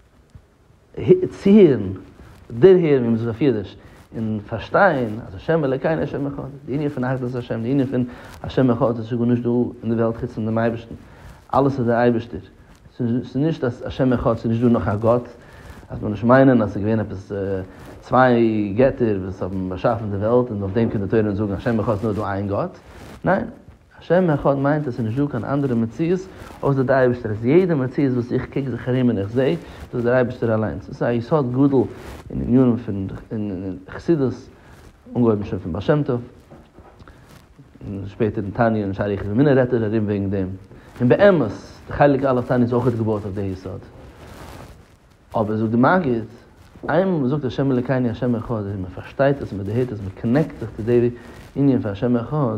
צו הערן, דערהערן און זיך בפירוש און פארשטיין אז השם אלוקינו השם אחד, די ענין פון אחדות השם, די ענין פון השם אחד איז שוין גארנישט דא אין די וועלט חוץ פון דעם אייבערשטן, אלעס איז דער אייבערשטער, ס'איז נישט אז השם אחד ס'איז נישט דא נאך א גאט, אז מיר נישט מיינען אז ס'איז געווען עפעס צוויי געטער וואס האבן באשאפן די וועלט און אויף דעם קען די תורה אונז זאגן השם אחד ס'איז נאר דא איין גאט, ניין. א שם אחד מיינט עס איז נישט דא קיין אנדערע מציאות אויסער די אייבערשטער, עס איז יעדע מציאות וואס איך קוק זיך ארום און איך זע, דאס איז דער אייבערשטער אליינס, דאס איז א יסוד גדול אין עניינים פון חסידות, אנגעהויבן שוין פון בעל שם טוב, און שפעטער אין תניא און שערי יחוס ומיני רעדט ער ארום וועגן דעם, און באמת די חלק א' תניא איז אויכעט געבויעט אויף די יסוד, אבער זאגט די מגיד, איינמאל מען זאגט השם אלקינו השם אחד און מען פארשטייט עס און מען דערהערט עס מען קאנעקט זיך צו די ענין פון השם אחד,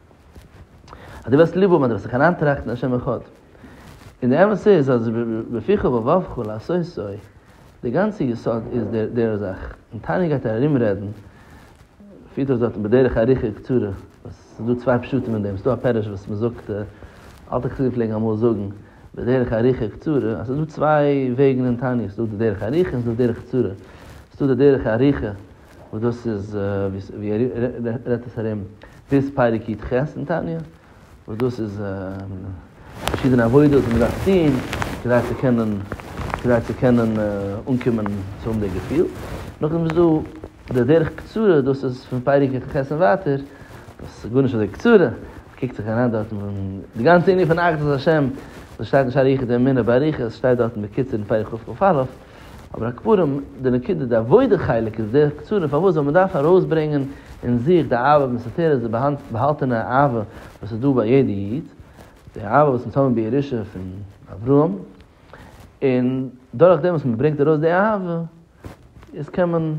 אז דו וועסט ליב האבן אז דו וועסט זיך אריינטראכטן אין השם אחד. און די אמת איז אז בפיך ובלבבך לעשות זיי, די גאנצע יסוד איז דער זאך. און תענית גייט ער ארום רעדן, פירט אויס דארטן בדרך ארוכה קצרה, וואס ס'איז דא צוויי פשטים אין דעם, ס'איז דא א פירוש וואס מ'זאגט, אלטע חסידים פלעגן אמאל זאגן, בדרך ארוכה קצרה, אז ס'איז דא צוויי וועגן אין תענית, ס'איז דא די דרך ארוכה און ס'איז דא די דרך קצרה. ס'איז דא די דרך ארוכה. וואס דאס איז ווי ער רעדט עס ארום ביז פרק י ח אין תניא, וואס דאס איז פארשידענע עבודות וואס מען דארף טון כדי צו קענען כדי צו קענען אנקומען צו האבן די געפיל, נאכדעם איז דא די דרך קצרה, דאס איז פון פרק י ח און ווייטער, דאס איז גארנישט אזוי קצרה, מ'קוקט זיך אריין דארט און די גאנצע ענין פון אחדות השם, וואס שטייט אין שער היחוד אמונה באריכות, שטייט דארט בקיצור אין פרק ח ו א. אבער הקפרים, די נקודה, די עבודה חלק איז דער קצרה פארוואס זאל מען דארפן ארויסברענגען אין זיך די אהבה מסתתרת, די באהאלטענע אהבה וואס איז דא ביי יעדע איד, די אהבה וואס מ'האט אנגענומען בירושה פון אברהם, און דורך דעם וואס מען ברענגט ארויס די אהבה, איז קען מען,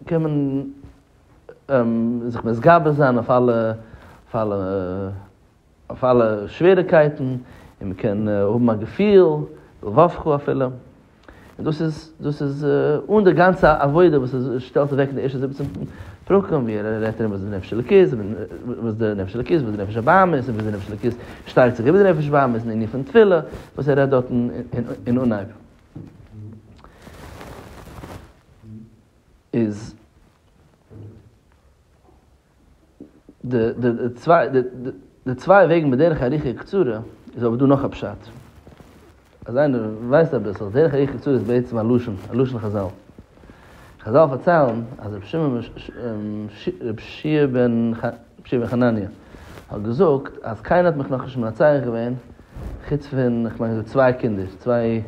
קען מען זיך מתגבר זיין אויף אלע, אויף אלע. אויף אלע שוועריקייטן, און מען קען האבן א געפיל, וו כ אפילו. און דאס איז, דאס איז אן די גאנצע עבודה וואס ער שטעלט אוועק אין די ערשטע זיבעצן פרקים, ווי ער רעדט ארום וואס איז די נפש אלוקית, וואס די נפש אלוקית, וואס די נפש הבהמה איז, און וויאזוי די נפש אלוקית שטארקט זיך איבער די נפש בהמה, איז אין ענין פון תפילה, וואס ער רעדט דארטן אין אנהייב. איז. די צוויי וועגן בדרך ארוכה וקצרה איז אבער דא נאך א פשט. אז איינער ווייסט אביסל, דרך ארוכה וקצרה איז בעצם א לשון, א לשון חזל. חזל פארציילן אז רבי שמעון רבי שיע בן בן חנניה האט געזאגט אז קיינער האט מיך נאכנישט מנצח געווען חוץ פון כ'מיין געזאגט צוויי קינדער, צוויי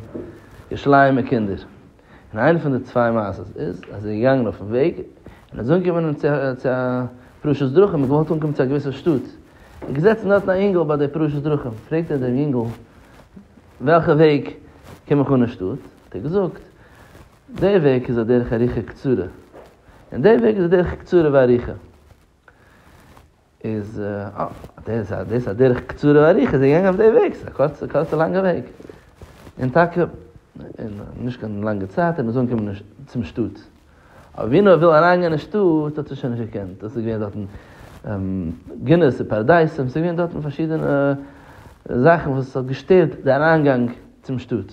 ירושלימ'ע קינדער. און איינע פון די צוויי מעשות איז אז ער איז געגאנגען אויפן וועג און ער איז אנגעקומען צו א פרשת דרכים, ער האט געוואלט אנקומען צו א געוויסע שטאט, איז געזעצן דארטן א אינגל ביי די פרשת דרכים, פרעגט ער דעם אינגל וועלכע וועג קום איך אן אין שטאט, האט ער געזאגט די וועג איז א דרך ארוכה קצרה, און די וועג איז א דרך קצרה וארוכה. איז אה, דאס איז א דרך קצרה ואריכה, זיי געגאנגען אויף די וועג, ס'איז א קורצע קורצע לאנגע וועג, און טאקע אין נישט קיין לאנגע צייט איז מען אזוי אנגעקומען צום שטאט, אבער ווי נאר ער וויל אריינגיין אין שטאט האט ער שוין נישט געקענט, דאס איז געווען דארטן גינות און פאראדייסים, ס'איז געווען דארטן פארשידענע זאכן וואס האט געשטערט די אריינגאנג צום שטאט.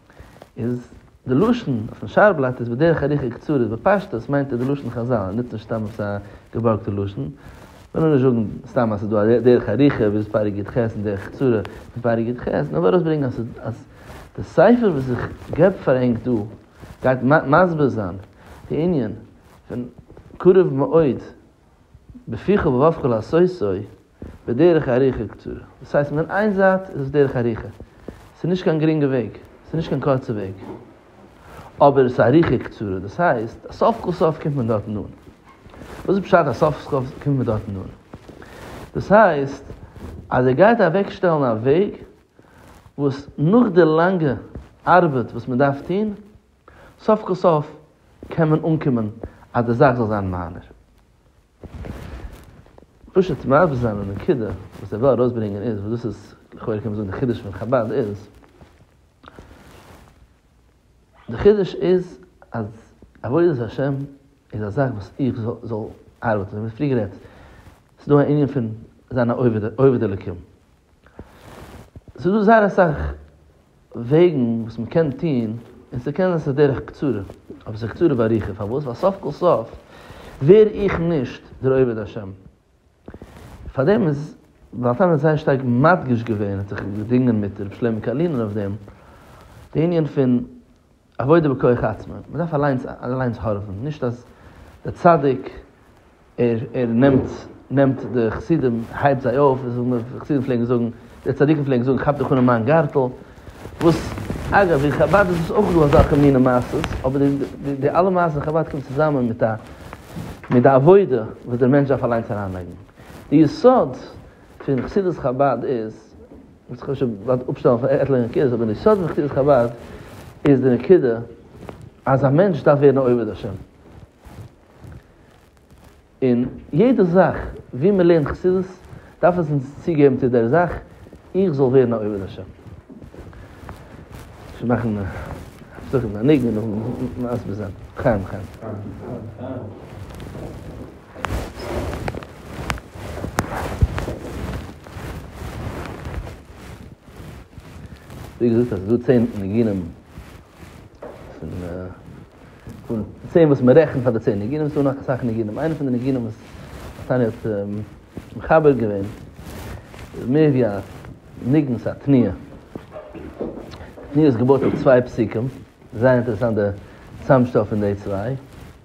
איז די לשון אויפן שער בלאט איז בדרך ארוכה קצרה בפשטות מיינט ער די לשון חזל ער נוצט נישט סתם עפעס א געבארגטע לשון מען זאל נישט זאגן סתם אז עס איז דא דרך ארוכה ווי איז פרק יד ח' און דרך קצרה פון פרק יד ח' נאר וויל ארויסברענגען אז אז די ספר וואס איך געב פאר ענק דא גייט מסביר זיין די ענין פון קרוב מאוד בפיך ובאפך לעשות זוי בדרך ארוכה קצרה, דאס הייסט פון איין זייט איז עס דרך ארוכה, ס'איז נישט קיין גרינגע וועג, ס'איז נישט קיין קורצע וועג, אבער עס איז ארוכה קצרה, דאס הייסט אז סוף כל סוף קומט מען דארטן אן. וואס איז פשט אז סוף כל סוף קומט מען דארטן אן? דאס הייסט אז ער גייט אוועק שטעלן א וועג וואס נאך די לאנגע ארבעט וואס מען דארף טון, סוף כל סוף קען מען אנקומען אז די זאך זאל זיין מיינער. פשוט מסביר זיין די נקודה וואס איך וויל ארויסברענגען איז, וואס דאס איז לכאורה קען מען זאגן די חידוש פון חבד איז, די חידוש איז אז עבודת השם איז א זאך וואס איך זאל ארבעטן, ווי פריער גערעדט, ס'איז דא א ענין פון זיין א עובד עובד אלקים, ס'איז דא זייער אסאך וועגן וואס מען קען טון, און צו קענען עס איז דרך קצרה, אבער עס איז קצרה ואריכה, פארוואס? ווייל סוף כל סוף ווער איך נישט דער עובד השם, פארדעם איז בעל תניא זייער שטארק מדגיש געווען, ער האט זיך געדינגען מיט ר' שלמה קארלינער אויף דעם, די ענין פון. עבודה בכח עצמו, מען דארף אליינס אליינס הארעווען, נישט אז דער צדיק ער ער נעמט נעמט די חסידים הייבט זיי אויף, די חסידים פלעגן זאגן, די צדיקים פלעגן זאגן כאפ דיך אן אין מיין גארטל, וואס אגב אין חבד איז דאס אויך דא אזעלכע מיני מעשות, אבער די די די אלע מעשות אין חבד קומט צוזאמען מיט א מיט די עבודה וואס דער מענטש דארף אליינס אריינלייגן, די יסוד פון חסידות חבד איז וואס כ'האב שוין געוואלט אפשטעלן פאר עטליכע נקודות, אבער די סוד פון חסידות חבד איז די נקודה אז א מענטש דארף ווערן א עובד השם. און יעדע זאך ווי מען לערנט חסידות דארף עס אונז צוגעבן צו דער זאך איך זאל ווערן א עובד השם. שוין מאכן הפסקה מיט א ניגון און מסביר זיין. לחיים לחיים. ווי געזאגט אז ס'איז דא צען ניגונים פון פון צען וואס מ'רעכנט פאר די צען ניגונים, ס'איז דא נאך אסאך ניגונים, איינע פון די ניגונים וואס נתניה האט מחבר געווען איז מער ווי א ניגון, ס'איז א תנועה, די תנועה איז געבויט אויף צוויי פסוקים, זייער אינטערעסאנט די צוזאמשטעל פון די צוויי.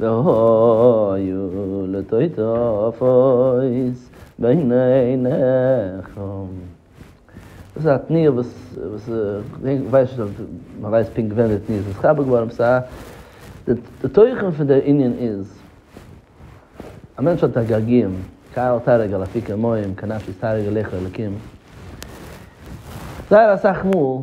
והיו לטוטפות בין עיניכם. דאס איז א תנועה וואס כ'ווייס נישט אויב מ'ווייסט פונקט ווען די תנועה איז נתחבר געווארן, די תוכן פון דער ענין איז, א מענטש האט א געגועים, כאל תערוג על אפיקי מים כנפש תערוג על היכל אלקים, זייער אסאך מאל.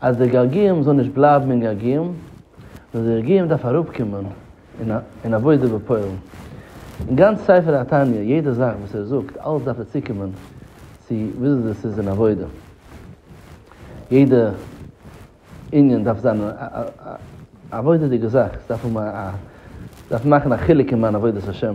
אז דער געיארגיען זאל נישט בלייבן אין געיארגיען, נאר דער געיארגיען דארף אראפקומען אין עבודה בפועל. אין גאנץ ספר התניא, יעדע זאך וואס ער זאגט, אלעס דארף ער צוקומען צו וויאזוי עס איז אין עבודה. יעדע ענין דארף זיין א עבודה'דיגע זאך, עס דארף האבן א, דארף מאכן א חילוק אין מיין עבודת השם.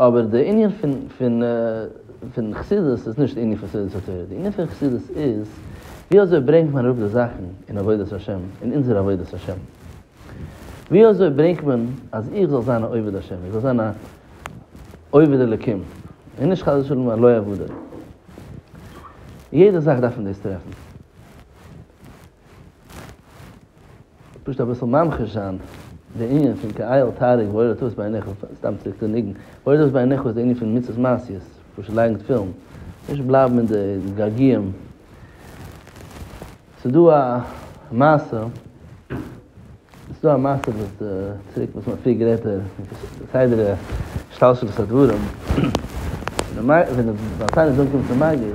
אבער די ענין פון פון חסידות איז נישט די ענין פון סעודת התורה, די ענין פון חסידות איז ווי אזוי ברענגט מען אראפ די זאכן אין עבודת השם, אין אונזער עבודת השם, ווי אזוי ברענגט מען אז איך זאל זיין א עובד השם, איך זאל זיין א עובד אלקים, און נישט חס ושלום א לא עבודה, יעדע זאך דארף מען דאס טרעפן. פשוט אביסל ממחיש זיין די ענין פון כי אל תהרוג ואל תבוס בעיניך, סתם צוריק צום ניגון, ואל תבוס בעיניך איז די ענין פון מצוות מעשיות, פשוט לייגן תפילין, נישט בלייבן אין די געגועים. ס'דא א מעשה, ס'דא א מעשה וואס די, צוריק וואס מ'האט פריער גערעדט די סדר השתלשלות הדברים, ווען די בעל תניא איז אנגעקומען צום מגיד,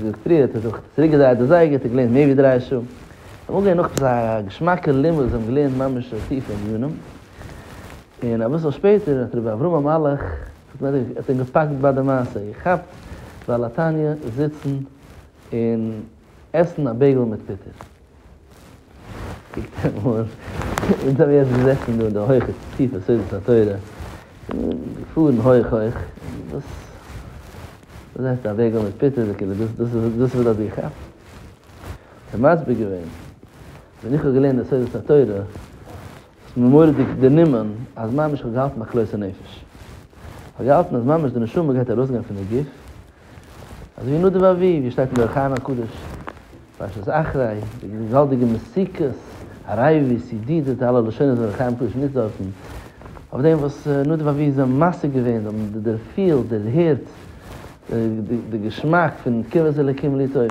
ווי פריער האט ער זיך צוריק געדרייט די זייגער האט ער געלערנט מער ווי דריי שעה און אנגעהויבן נאך עפעס א געשמאקע לימוד וואס זיי האבן געלערנט ממש טיפע ענינים און אביסל שפעטער האט רבי אברהם המלאך האט אים געפאקט ביי די מעשה איר כאפט בעל התניא זיצן און עסן א בעיגל מיט פיטער. אונז האבן יעצט געזעסן דא אין די הויכע טיפע סודות התורה, געפארן הויך הויך, דאס דאס הייסט א וועג אן מיט פיטער, דאס איז וואס האט דיר געכאפט? האט ער מסביר געווען, ווען איך האב געלערנט די סודות התורה, האט עס מיר מורא'דיג דערנומען, אז ממש איך האב געהאלטן א כלות הנפש, איך האב געהאלטן אז ממש די נשמה גייט ארויסגיין פון די גוף, אזוי ווי נדב אביו, ווי עס שטייט אין דער ארכיון הקדוש, פרשת אחרי, די געוואלדיגע מסיכת הרי ו, סי די, די אלע לשונות וואס דער ארכיון הקדוש נוצט דארטן, אויף דעם וואס נדב אביו איז זיי משיג געווען, זיי האבן דערפילט, דערהערט, די געשמאק פון קרבת אלוקים ליטוב,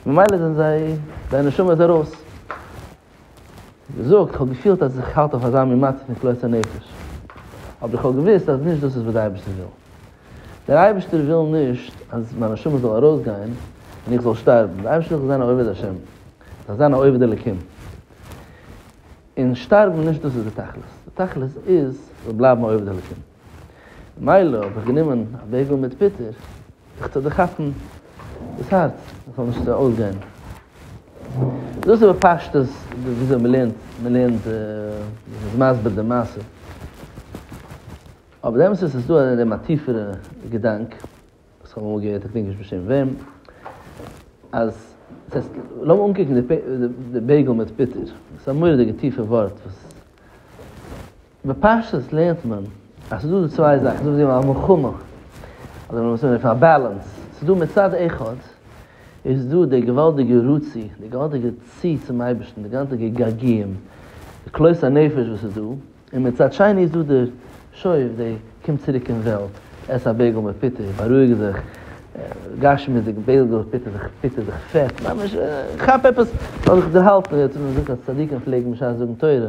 ממילא זענען זיי, זייער נשמה איז ארויס. געזאגט, כ'האב געפילט אז איך האלט אויף אזא מין מצב פון כלות הנפש, אבער איך האב געוואוסט אז נישט דאס איז וואס דער אייבערשטער וויל. דער אייבערשטער וויל נישט אז מיין נשמה זאל ארויסגיין און איך זאל שטארבן, דער אייבערשטער וויל איך זאל זיין א עובד השם, איך זאל זיין א עובד אלקים, און שטארבן נישט דאס איז די תכלית, די תכלית איז איך זאל בלייבן א עובד אלקים. מילא האב איך גענומען א בעגעל מיט פיטער זיך צו דערכאפן דאס הארץ עס זאל נישט אויסגיין. דאס איז בפשטות וויאזוי מען לערנט, מען לערנט מען איז מסביר די מעשה. אבער די אמת איז עס איז דא אין דעם א טיפערע געדאנק וואס איך האב אמאל געהערט איך דענק נישט בשם וועם אז לאז מיך אנקוקן די בעגעל מיט פיטער עס איז א מורא'דיגע טיפע ווארט וואס בפשטות לערנט מען אז ס'איז דא די צוויי זאכן, ס'איז דא וואס זיי נעמען א מלחמה, אדער וואס מ'רופט א באלאנס, ס'איז דא מצד אחד איז דא די געוואלדיגע רצי, די געוואלדיגע צי צום אייבערשטן, די געוואלדיגע געגועים, די כלות הנפש וואס איז דא, און מצד שני איז דא דער שואף, די קום צוריק אין וועלט, עס א בעגל מיט פיטה, בארואיג זיך, גשמיות'דיג בעגל מיט פיטה, זיך פיטער, זיך פעט, ממש כאפ עפעס, זאל זיך דערהאלטן, צדיקים פלעגן בשעת זאגן תורה,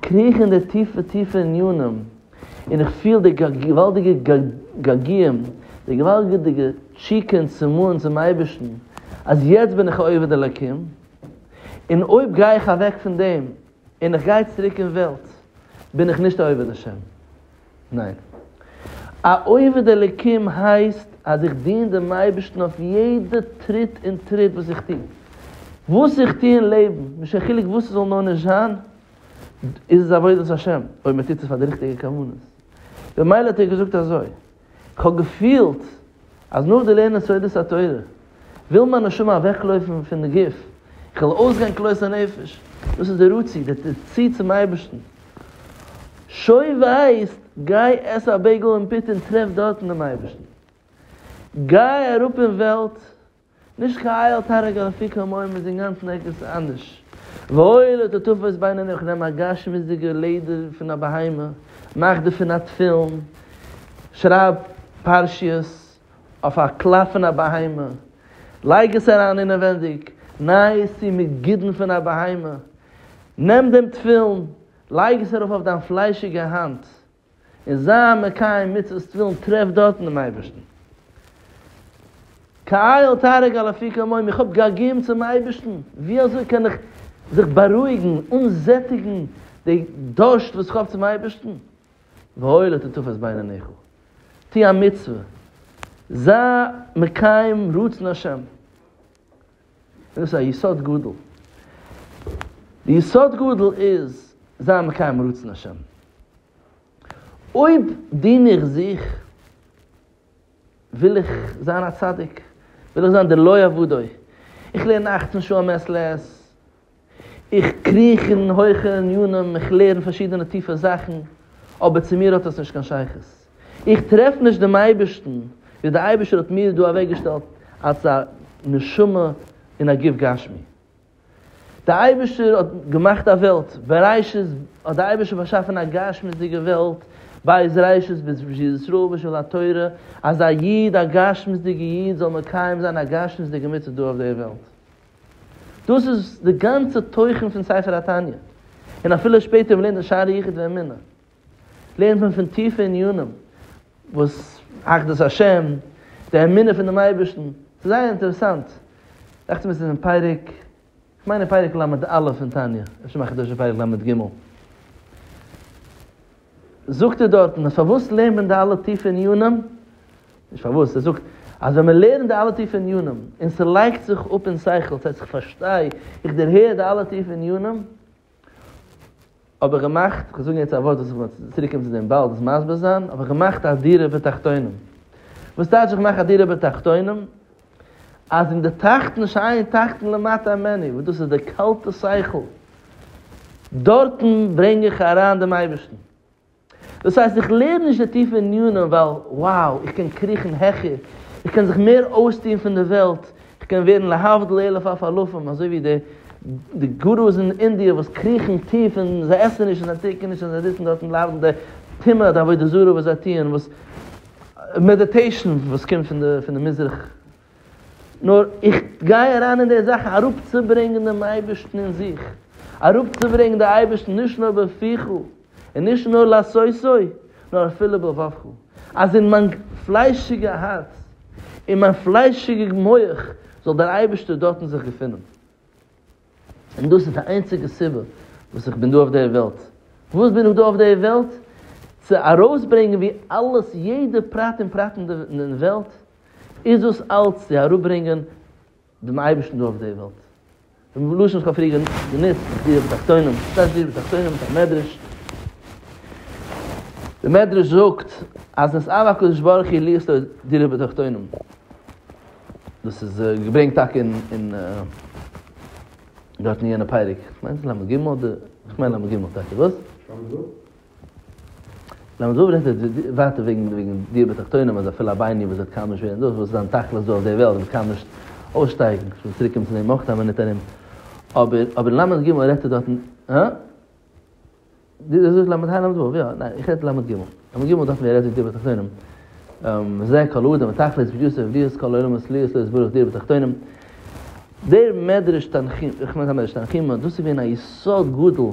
קריך אין די טיפע טיפע ענינים, און איך פיל די געוואלדיגע געגועים, די געוואלדיגע תשוקה און צמאון צום אייבערשטן, אז יעצט בין איך א עובד אלקים, און אויב גיי איך אוועק פון דעם, און איך גיי צוריק אין וועלט, בין איך נישט א עובד השם. ניין. א עובד אלוקים הייסט אז איך דין דעם אייבערשטן אויף יעדע טריט און טריט וואס איך טו. וואס איך טו אין לעבן, נישט קיין חילוק וואס ס'זאל נאר נישט זיין, איז עס עבודת השם, אויב מען טוט עס פאר די ריכטיגע כוונות. במילא האט ער געזאגט אזוי, איך האב געפילט אז נאך די לערנען סודות התורה, וויל מיין נשמה אוועקלויפן פון די גוף, איך וויל אויסגיין כלות הנפש, דאס איז די רצי, די צי צום אייבערשטן, שוין ווייסט, גיי עס א בייגל און פיטא און טרעף דארטן דעם אייבערשטן, גיי אראפ אין וועלט, נישט כאיל תענג על אפיקי המים איז אינגאנצן ערגעץ אנדערש, וואויל איז די תופס בין אני איך נעם א גשמיות'דיגע לעדער פון א בהמה, מאך דערפון א תפילין, שרייב פרשיות, אויף א קלאפ פון א בהמה, לייג עס אריין אינעווענדיג, ניי עס צו מיט גידן פון א בהמה, נעם דעם תפילין, לייג עס ארויף אויף דיין פליישיגע האנט, און זיי מקיים מצוות תפילין, טרעף דארטן דעם אייבערשטן. כאיל תערוג על אפי כמים, איך האב געגועים צום אייבערשטן, ווי אזוי קען איך זיך בארואיגן, אנזעטיגן די דורשט וואס איך האב צום אייבערשטן, והואיל אתה תופס בעיניך, טו א מצוה, זיי מקיים רצון השם, דאס איז א יסוד גדול, די יסוד גדול איז זיי מקיים רצון השם, אויב דין איך זיך, וויל איך זיין א צדיק, וויל איך זיין דער לא יעבודו, איך לערן אַכצן שעה מעת לעת, איך קריך אין הויכע ענינים, איך לערן פארשידענע טיפע זאכן, אבער צו מיר האט עס נישט קיין שייכות. איך טרעף נישט דעם אייבערשטן, ווי דער אייבערשטער האט מיר דא אוועקגעשטעלט אלס א נשמה און א גוף גשמי. דער אייבערשטער האט געמאכט א וועלט, בראשית האט דער אייבערשטער באשאפן א גשמיות'דיגע וועלט, בית ראשית בית ישראל בשביל התורה, אז א איד, א גשמיות'דיגע איד זאל מקיים זיין א גשמיות'דיגע מצוה דא אויף דער וועלט. דאס איז די גאנצע תוכן פון ספר התניא, און אפילו שפעטער מ'לערנט אין שערי יחוד ואמונה, לערנט מען פון טיפע עניינים, וואס אחדות השם, די אמונה פון דעם אייבערשטן, ס'איז זייער אינטערעסאנט, דאכט מיר ס'איז אין פרק, כ'מיין אין פרק ל' א' אין תניא, אפשר מחדש אין פרק ל' ג'. זאגט ער דארטן אז פארוואס לערנט מען די אלע טיפע ענינים, נישט פארוואס, ער זאגט אז ווען מען לערנט די אלע טיפע ענינים און ס'לייגט זיך אפ אין שכל, ס'הייסט איך פארשטיי, איך דערהער די אלע טיפע ענינים, האב איך געמאכט, איך וועל זאגן יעצט א ווארט וואס איך וועל צוריק קומען צו דעם באלד דאס מסביר זיין, האב איך געמאכט א דירה בתחתונים, וואס טייטש איך מאך א דירה בתחתונים? אז אין די טראכטן נישט אריין טראכטן למטה המעני וואס דאס איז די קאלטע שכל דארטן ברענג איך אריין דעם אייבערשטן דאס הייסט איך לערן נישט די טיפע ענינים ווייל wow איך קען קריכן העכער איך קען זיך מער אויסטוהן פון די וועלט איך קען ווערן להבדיל אלף אף אלפים אזוי ווי די די גורוס אין אינדיע וואס קריכן טיף און זיי עסן נישט און זיי טרינקען נישט און זיי זיצן דארטן ליידן די טומאה די עבודה זרה וואס זיי טוען וואס מעדיטעישן וואס קומט פון די פון די מזרח, נאר איך גיי אריין אין די זאכן אראפצוברענגען דעם אייבערשטן אין זיך, אראפצוברענגען די אייבערשטן נישט נאר בפיך און נישט נאר לעשותו, נאר אפילו בלבבך, אז אין מיין פליישיגע הארץ, אין מיין פליישיגע מח, זאל דער אייבערשטער דארטן זיך געפונען. און דאס איז די איינציגע סיבה וואס איך בין דא אויף די וועלט. פארוואס בין איך דא אויף די וועלט? צו ארויסברענגען ווי אלעס, יעדע פרט און פרט אין די וועלט, איז דאס אלץ צו אראפברענגען דעם אייבערשטן דא אויף די וועלט. דעם לשון איך האב פריער גענוצט, דירה בתחתונים, וואס הייסט דירה בתחתונים? מיט א מדרש. דער מדרש זאגט אז נשאר הקדוש ברוך הוא להיות לו דירה בתחתונים. דאס איז געברענגט טאקע אין דארט אין יענע פרק, איך מיין למה ג, איך מיין למה ג טאקע, וואס? למה זאב רעדט ווייטער וועגן וועגן דיעה בתחתונים אז אפילו א בינוני וואס וועט קאמיש ווערן דאס וואס זיין תכלית דא אויף די וועלט וועט קאמיש אויסשטייגן, איך וויל צוריקקומען צו דעם אויך כמה נתונים, אבער אבער למה ג רעדט ער דארטן, הא? די זאגסט למד ה' למד ו', יא, ניין, איך רעדט למד ג', למד ג' דארף מען רעדט וועגן די בתחתונים, וזה כל האדם ותכלית בגיוס עבדיות כל העולם הסליעות לא יסבורך דיר בתחתונים, דער מדרש תנחומ, איך מיין קיין מדרש תנחומא, דאס איז געווען א יסוד גדול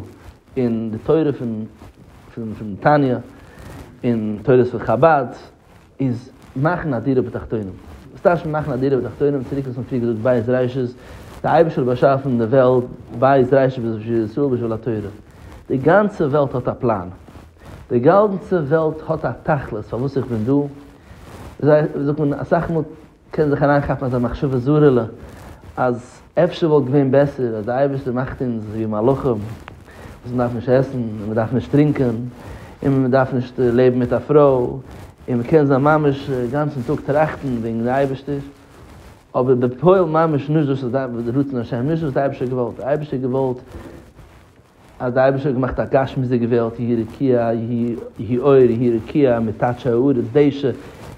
אין די תורה פון פון תניא, אין תורות פון חבד. איז מאכן א דירה בתחתונים, וואס טייטש מען מאכן א דירה בתחתונים, צוריק וואס מען האט פריער געזאגט בית ראשית, די אייבערשטער האט באשאפן די וועלט, בית ראשית בשביל ישראל בשביל התורה, די גאנצע וועלט האט א פלאן, די גאנצע וועלט האט א תכלית פארוואס איך בין דא, זיי זאגט מען אסאך מאל קען זיך אריינכאפן אזא מחשבה זרה'לע אז אפשר וואלט געווען בעסער אז די אייבערשטער מאכט אונז ווי מלאכים וואס מ'דארף נישט עסן און מ'דארף נישט טרינקען און מ'דארף נישט לעבן מיט א פרוי און מ'קען זיין ממש גאנצן טאג טראכטן וועגן די אייבערשטער אבער בפועל ממש נישט דאס איז רצון השם נישט דאס האט די אייבערשטער געוואלט די אייבערשטער האט געוואלט אז דער אייבערשטער האט געמאכט א גשמיות'דיגע וועלט, יהי רקיע, יהי אור, יהי רקיע מטאטשע הארץ דשא,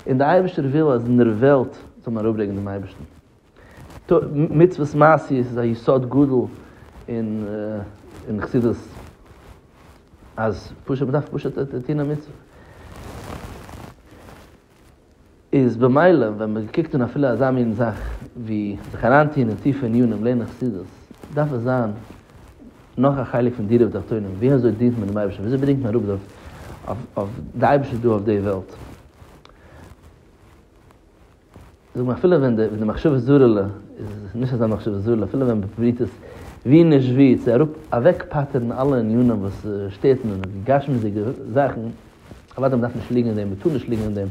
און דער אייבערשטער וויל אז אין דער וועלט זאל מען אראפברענגען דעם אייבערשטן. מצוות מעשיות איז א יסוד גדול אין חסידות, אז פשוט מ'דארף פשוט טון א מצוה. איז במילא ווען מען קוקט אין אפילו אזא מין זאך ווי זיך אריינטוהן אין טיפע ענינים לערנען חסידות, דארף עס זיין נאך א חלק פון דירה בתחתונים, ווי אזוי דינט מען דעם אייבערשטן, ווי אזוי ברענגט מען אראפ די אויף די אייבערשטער דא אויף די וועלט. זאג מיר אפילו ווען די מחשבה זרה'לע איז נישט אזא מחשבה זרה'לע, אפילו ווען מ'פרובירט עס ווי נישט ווי צו אראפ אוועק פטר'ן אלע ענינים וואס שטערט און די גשמיות'דיגע זאכן, אוודאי מ'דארף נישט ליגן אין דעם, מ'טאר נישט ליגן אין דעם,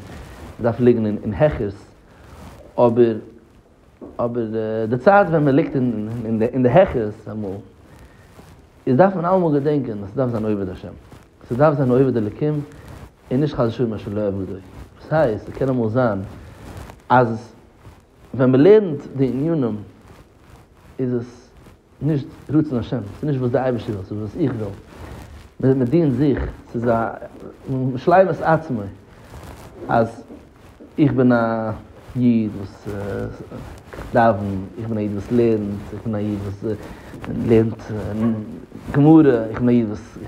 מ'דארף ליגן אין העכערס, אבער אבער די צייט ווען מ'ליגט אין די העכערס אמאל איז דארף מען אלעמאל געדענקען אז ס'דארף זיין עובד השם, ס'דארף זיין עובד אלקים און נישט חס ושלום מה שלא עבדו, דאס הייסט ס'קען אמאל זיין אז ווען מ'לערנט די ענינים איז עס נישט רצון השם, ס'איז נישט וואס די אייבערשטער וויל, ס'איז וואס איך וויל, מ'דינט זיך, ס'איז א, משלים את עצמו, אז איך בין א איד וואס דאווענט, איך בין א איד וואס לערנט, איך בין א איד וואס לערנט גמרא, איך בין א איד וואס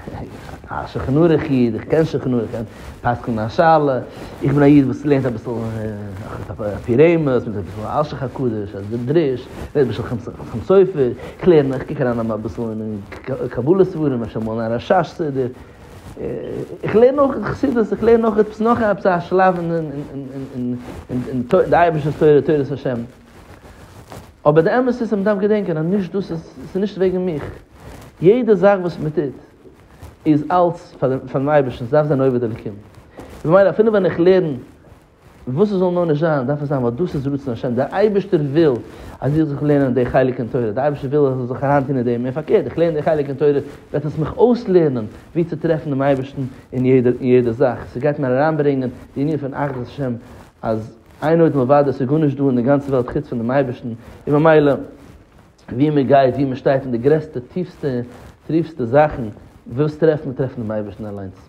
א שולחן ערוך איד, איך קען שולחן ערוך, איך קען פסק'נען א שאלה, איך בין א איד וואס לערנט אביסל א פי רמז, מיט אביסל אלשיך הקדוש, אז די דרוש, רעדט בשם חתם סופר, איך לערן, איך קוק אריין אביסל אין קבלה ספרים, אפשר מאל אין א רשש סידור. איך לערן אויך אין חסידות, איך לערן אויך עפעס נאך עפעס א שלב אין אין די אייבערשטער'ס תורה, תורת השם. אבער די אמת איז אז מ'דארף געדענקען אז נישט דאס איז, ס'איז נישט וועגן מיך. יעדע זאך וואס מ'טוט איז אלץ פאר דעם אייבערשטן, ס'דארף זיין עובד אלקים. ממילא אפילו ווען איך לערן וואס עס זאל נאר נישט זיין, דארף עס זיין ווייל דאס איז רצון השם, דער אייבערשטער וויל אז איך זאל לערנען די חלק אין תורה, דער אייבערשטער וויל אז איך זאל זיך אריינטון אין דעם, און פארקערט, איך לערן די חלק אין תורה, וועט עס מיך אויסלערנען ווי צו טרעפן דעם אייבערשטן אין יעדע זאך, ס'גייט מיר אריינברענגען די ענין פון אחדות השם, אז איין עוד מלבדו איז גארנישט דא אין די גאנצע וועלט חוץ פון דעם אייבערשטן, און ממילא וואו מען גייט, וואו מען שטייט, אין די גרעסטע, טיפסטע, טריפסטע זאכן, ווילסט טרעפן, טרעף דעם אייבערשטן אליינס.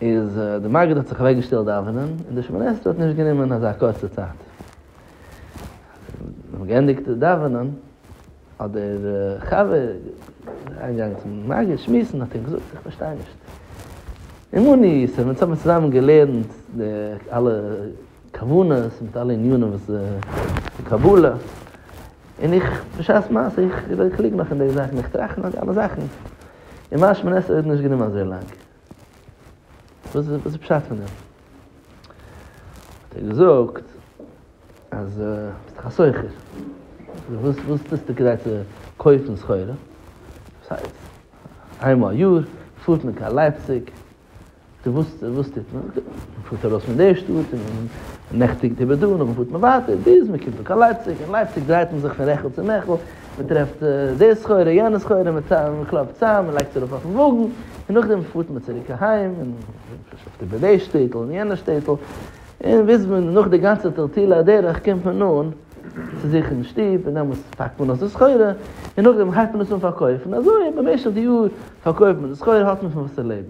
איז די מגיד האט זיך אוועקגעשטעלט דאווענען, און די שמונה עשרה האט נישט גענומען אזא קורצע צייט. זיי האבן געענדיגט דאווענען, האט דער חבר אריינגעגאנגען צום מגיד שמועסן, האט אים געזאגט, איך פארשטיי נישט, אמוני ישראל, אונז האבן צוזאמען געלערנט די אלע כוונות מיט אלע ענינים וואס די קבלה, און איך בשעת מעשה, איך קלוג נאך אין די זאכן, איך טראכט נאך די אלע זאכן, און מיין שמונה עשרה האט נישט גענומען אזוי לאנג. וואס איז די פשט פון דעם? האט ער געזאגט אז דו ביסט דאך א סוחר, וואס טוסטו כדי צו קויפן סחורה? וואס הייסט? איינמאל א יאר פארט מען קיין לייפציג, וואס טוט מען? מען פארט ארויס פון די שטאט און מען נעכטיגט איבער דא, נאכדעם פארט מען ווייטער ביז מען קומט אן קיין לייפציג, אין לייפציג דרייט מען זיך פון רעכל צו מעכל, מען טרעפט די סחורה יענע סחורה, מען קלאפט צאם, מען לייגט עס ארויף אויפן וואגן, און נאכדעם פארט מען צוריק אהיים, און שופט איבער די שטעטל און יענע שטעטל, און ביז מען נאך די גאנצע טלטול הדרך קומט מען אן צו זיך אין שטוב, און דעמאלס פאקט מען אויס די סחורה, און נאכדעם הייבט מען עס אן פארקויפן, אזוי במשך די יאר פארקויפט מען די סחורה, האט מען פון וואס צו לעבן.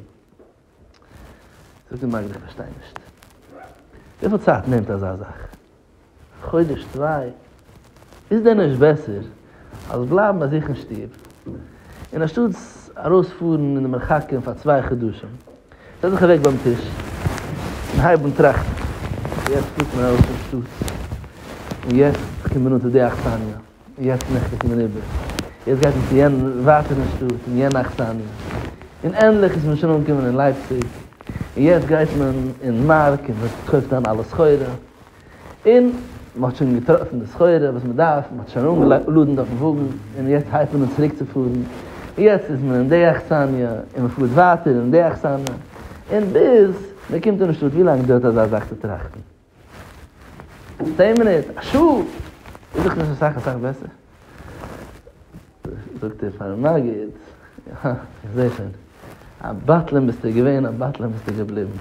זאגט די מגיד איך פארשטיי נישט. וויפיל צייט נעמט אזא זאך? א חודש צוויי? איז דען נישט בעסער אז בלייבן ביי זיך אין שטוב, און אנשטאטס ארויס פארן אין די מרחקים פאר צוויי חדשים, זעץ דיך אוועק ביים טיש און הייב אן טראכטן, יעצט פארט מען ארויס פון שטאט, און יעצט קומט מען אן צו די אכסניא. יעצט נעכט איז מען איבער, יעצט גייט מען צו יענע ווייטער אין שטאט אין יענע אכסניא, און ענדליך איז מען שוין אנגעקומען אין לייפציג, און יעצט גייט מען אין מארק און מען קויפט איין אלע סחורה, און מען האט שוין געטראפן די סחורה וואס מען דארף, מען האט שוין אנגעלאדענט אויפן וואגן, און יעצט הייבט מען אן צוריק צו פארן, יעצט איז מען אין די אכסניא, און מען פארט ווייטער אין די אכסניא, און ביז מען קומט אין שטאט, ווי לאנג דויערט אזא זאך צו טראכטן? צען מינוט, א שעה, איז דאך נישט אסאך אסאך בעסער. זאגט ער פארן מגיד, אה, איך זעה שוין, א בטלן ביסטו געווען, א בטלן ביסטו געבליבן.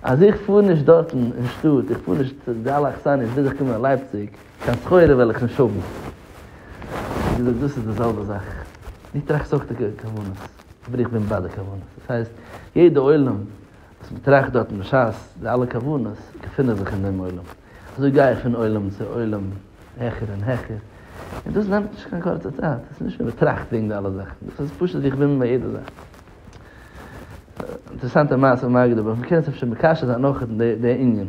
אז איך פאר נישט דארטן אין שטאט, איך פאר נישט צו די אלע אכסניות ביז איך קום קיין לייפציג, קיין סחורה וועל איך נישט האבן. האט ער געזאגט, דאס איז די זעלבע זאך, דו טראכסט אויך די כוונות, אבער איך בין ביי די כוונות. דאס הייסט, יעדע עולם צו באטראכט דארטן בשעת די אלע כוונות געפינען זיך אין דעם עולם, אזוי גיי איך פון עולם צו עולם העכער און העכער, און דאס נעמט נישט קיין קורצע צייט, דאס איז נישט מער באטראכט וועגן די אלע זאכן, דאס איז פשוט זיך ווינדן ביי יעדע זאך. אינטערעסאנטע מעשה פון מגד א, אבער מ'קען עס אפשר מקשר זיין אויך אין די ענין.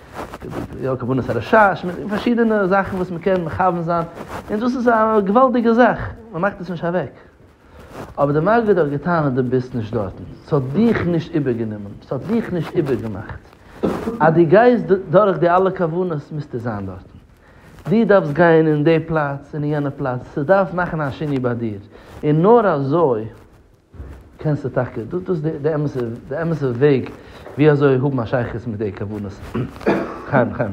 יא כוונת הרשע, פארשידענע זאכן וואס מען קען מכוון זיין, און דאס איז א געוואלדיגע זאך, מען מאכט עס נישט אוועק, אבער די מגיד האט געטענהט אז דו ביסט נישט דארטן, ס'האט דיך נישט איבערגענומען, ס'האט דיך נישט איבערגעמאכט, אז דו גייסט דורך די אלע כוונות מוזטו זיין דארטן, דו דארפסט גיין אין די פלאץ און אין יענע פלאץ, ס'דארף מאכן א שינוי ביי דיר, און נאר אזוי. קענסטו טאקע, דאס איז די אמת'ע, די אמת'ע וועג ווי אזוי האבן א שייכות מיט די כוונות. חיים, חיים.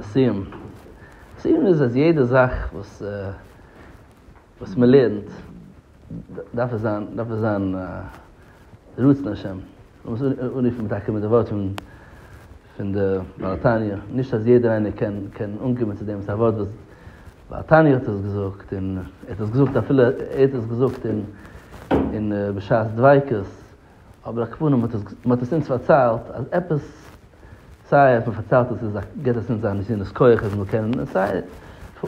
סיום סיום איז אז יעדע זאך וואס וואס מען לערנט דארף עס זיין דארף עס זיין רצון השם. מ'מוז אנרופן טאקע מיט די ווארטן פון די בעל התניא, נישט אז יעדער איינער קען קען אנקומען צו דעם, ס'איז א ווארט וואס בעל התניא האט עס געזאגט, און ער האט עס געזאגט אפילו ער האט עס געזאגט אין אין בשעת דביקות, אבער הכוונה מ'האט עס מ'האט עס אונז פארציילט אז עפעס סיי אז מ'פארציילט עס איז א געט עס אונז א נתינת כח אז מ'זאל קענען און סיי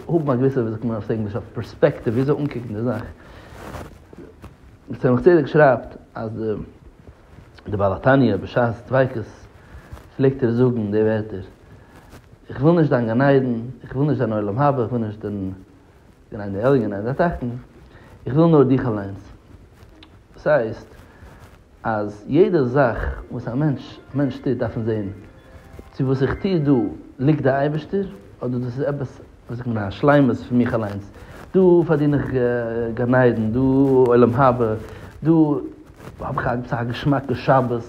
האבן א געוויסע ווי זאגט מען אויף ענגליש א פערספעקטיוו ווי אזוי אנקוקן די זאך. צמח צדק שרייבט אז דער בעל התניא בשעת דביקות פלעגט ער זאגן די ווערטער, איך וויל נישט דיין גן עדן, איך וויל נישט דיין עולם הבא, איך וויל נישט דיין גן עדן עליון, גן עדן התחתון, איך וויל נאר דיך אליינס. דאס הייסט. אז יעדע זאך וואס א מענטש מענטש טוט דארף מען זען צו וואס איך טו דא ליגט דער אייבערשטער אדער דאס איז עפעס ווי זאגט מען א שלימות פון מיך אליינס, דא פארדין איך גן עדן, דא עולם הבא, דא האב איך עפעס א געשמאקע שבת,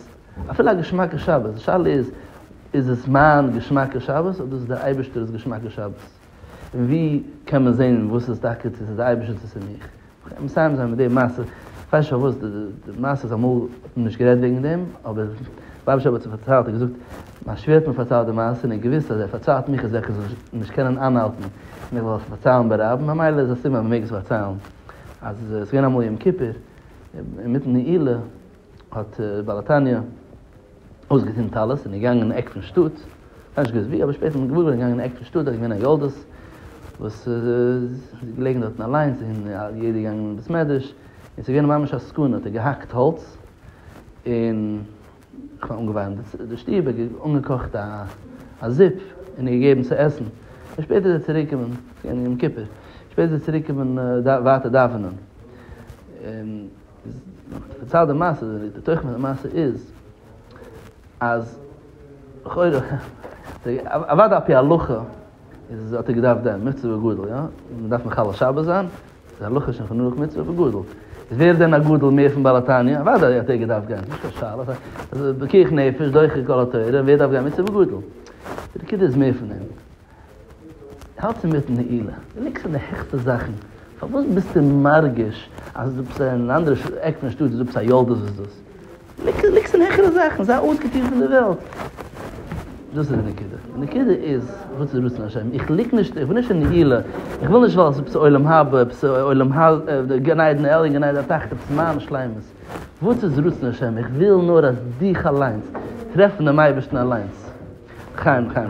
אפילו א געשמאקע שבת, די שאלה איז, איז עס מיין געשמאקע שבת אדער איז עס דער אייבערשטער'ס געשמאקע שבת? ווי קען מען זען וואס איז טאקע צו ס'איז די אייבערשטער צו ס'איז מיך? כ'קען מסיים זיין מיט די מעשה, כ'ווייס נישט פארוואס די מעשה איז אמאל האט מען נישט גערעדט וועגן דעם, אבער רבי שב האט זיך פארציילט, ער האט געזאגט, מיין שווער האט מיר פארציילט די מעשה און ער האט געוואוסט אז ער פארציילט מיך אזעלכע זאכן, איך זאל נישט קענען איינהאלטן און איך וועל עס פארציילן ביי רב, ממילא איז א סימן אז מ'מעג עס פארציילן, אז עס איז געווען אמאל יום כיפור, אינמיטן נעילה האט בעל התניא. אויסגעטון טלית און איז געגאנגען אין עק פון שטאט, כאניש געוואוסט ווי, אבער שפעטער מיט געוואויר געווארן געגאנגען אין עק פון שטאט, דארט איז געווען א יולדות וואס איז געלעגן דארטן אליינס און יעדער איז געגאנגען אין בית מדרש, און ס'איז געווען ממש א סכנה, האט ער געהאקט האלץ און כ'מיין אנגעווארעמט די שטוב, ער האט אנגעקאכט א זופ און איר געגעבן צו עסן, און שפעטער איז ער צוריק געקומען, ס'איז געווען יום כיפור, שפעטער איז ער צוריק געקומען ווייטער דאווענען. בצד המעשה, די תוכן פון די מעשה איז, אז לכאורה, אוודאי על פי הלכה, איז האט ער געדארפט דעם מצוה וגדול, יא? מען דארף מחלל שבת זיין, די הלכה איז שוין חנוך מצוה וגדול. איז ווער דען א גדול מער פון בעל התניא? אוודאי האט ער געדארפט גיין, ס'איז נישט קיין שאלה, אז פיקוח נפש דוחה כל התורה, ווער דארף גיין מצוה וגדול? די נקודה איז מער פון דעם. האלטסט אינמיטן נעילה, דו ליגסט אין די העכסטע זאכן, פארוואס ביסטו מרגיש אז דו ביסט אין אן אנדערע עק פון שטאט, דו ביסט א ילדות וואס דאס? דו ליגסט אין העכערע זאכן, זיי אויסגעטון פון די וועלט. דאס איז די נקודה. די נקודה איז, וואס איז רצון השם? איך ליג נישט, איך בין נישט אין נעילה, איך וויל נישט ווייל עפעס עולם הבא, עפעס עולם ה, גן עדן עליון, גן עדן התחתון, עפעס מיין שלימות. וואס איז רצון השם? איך וויל נאר אז דיך אליינס. טרעפן דעם אייבערשטן אליינס. לחיים לחיים.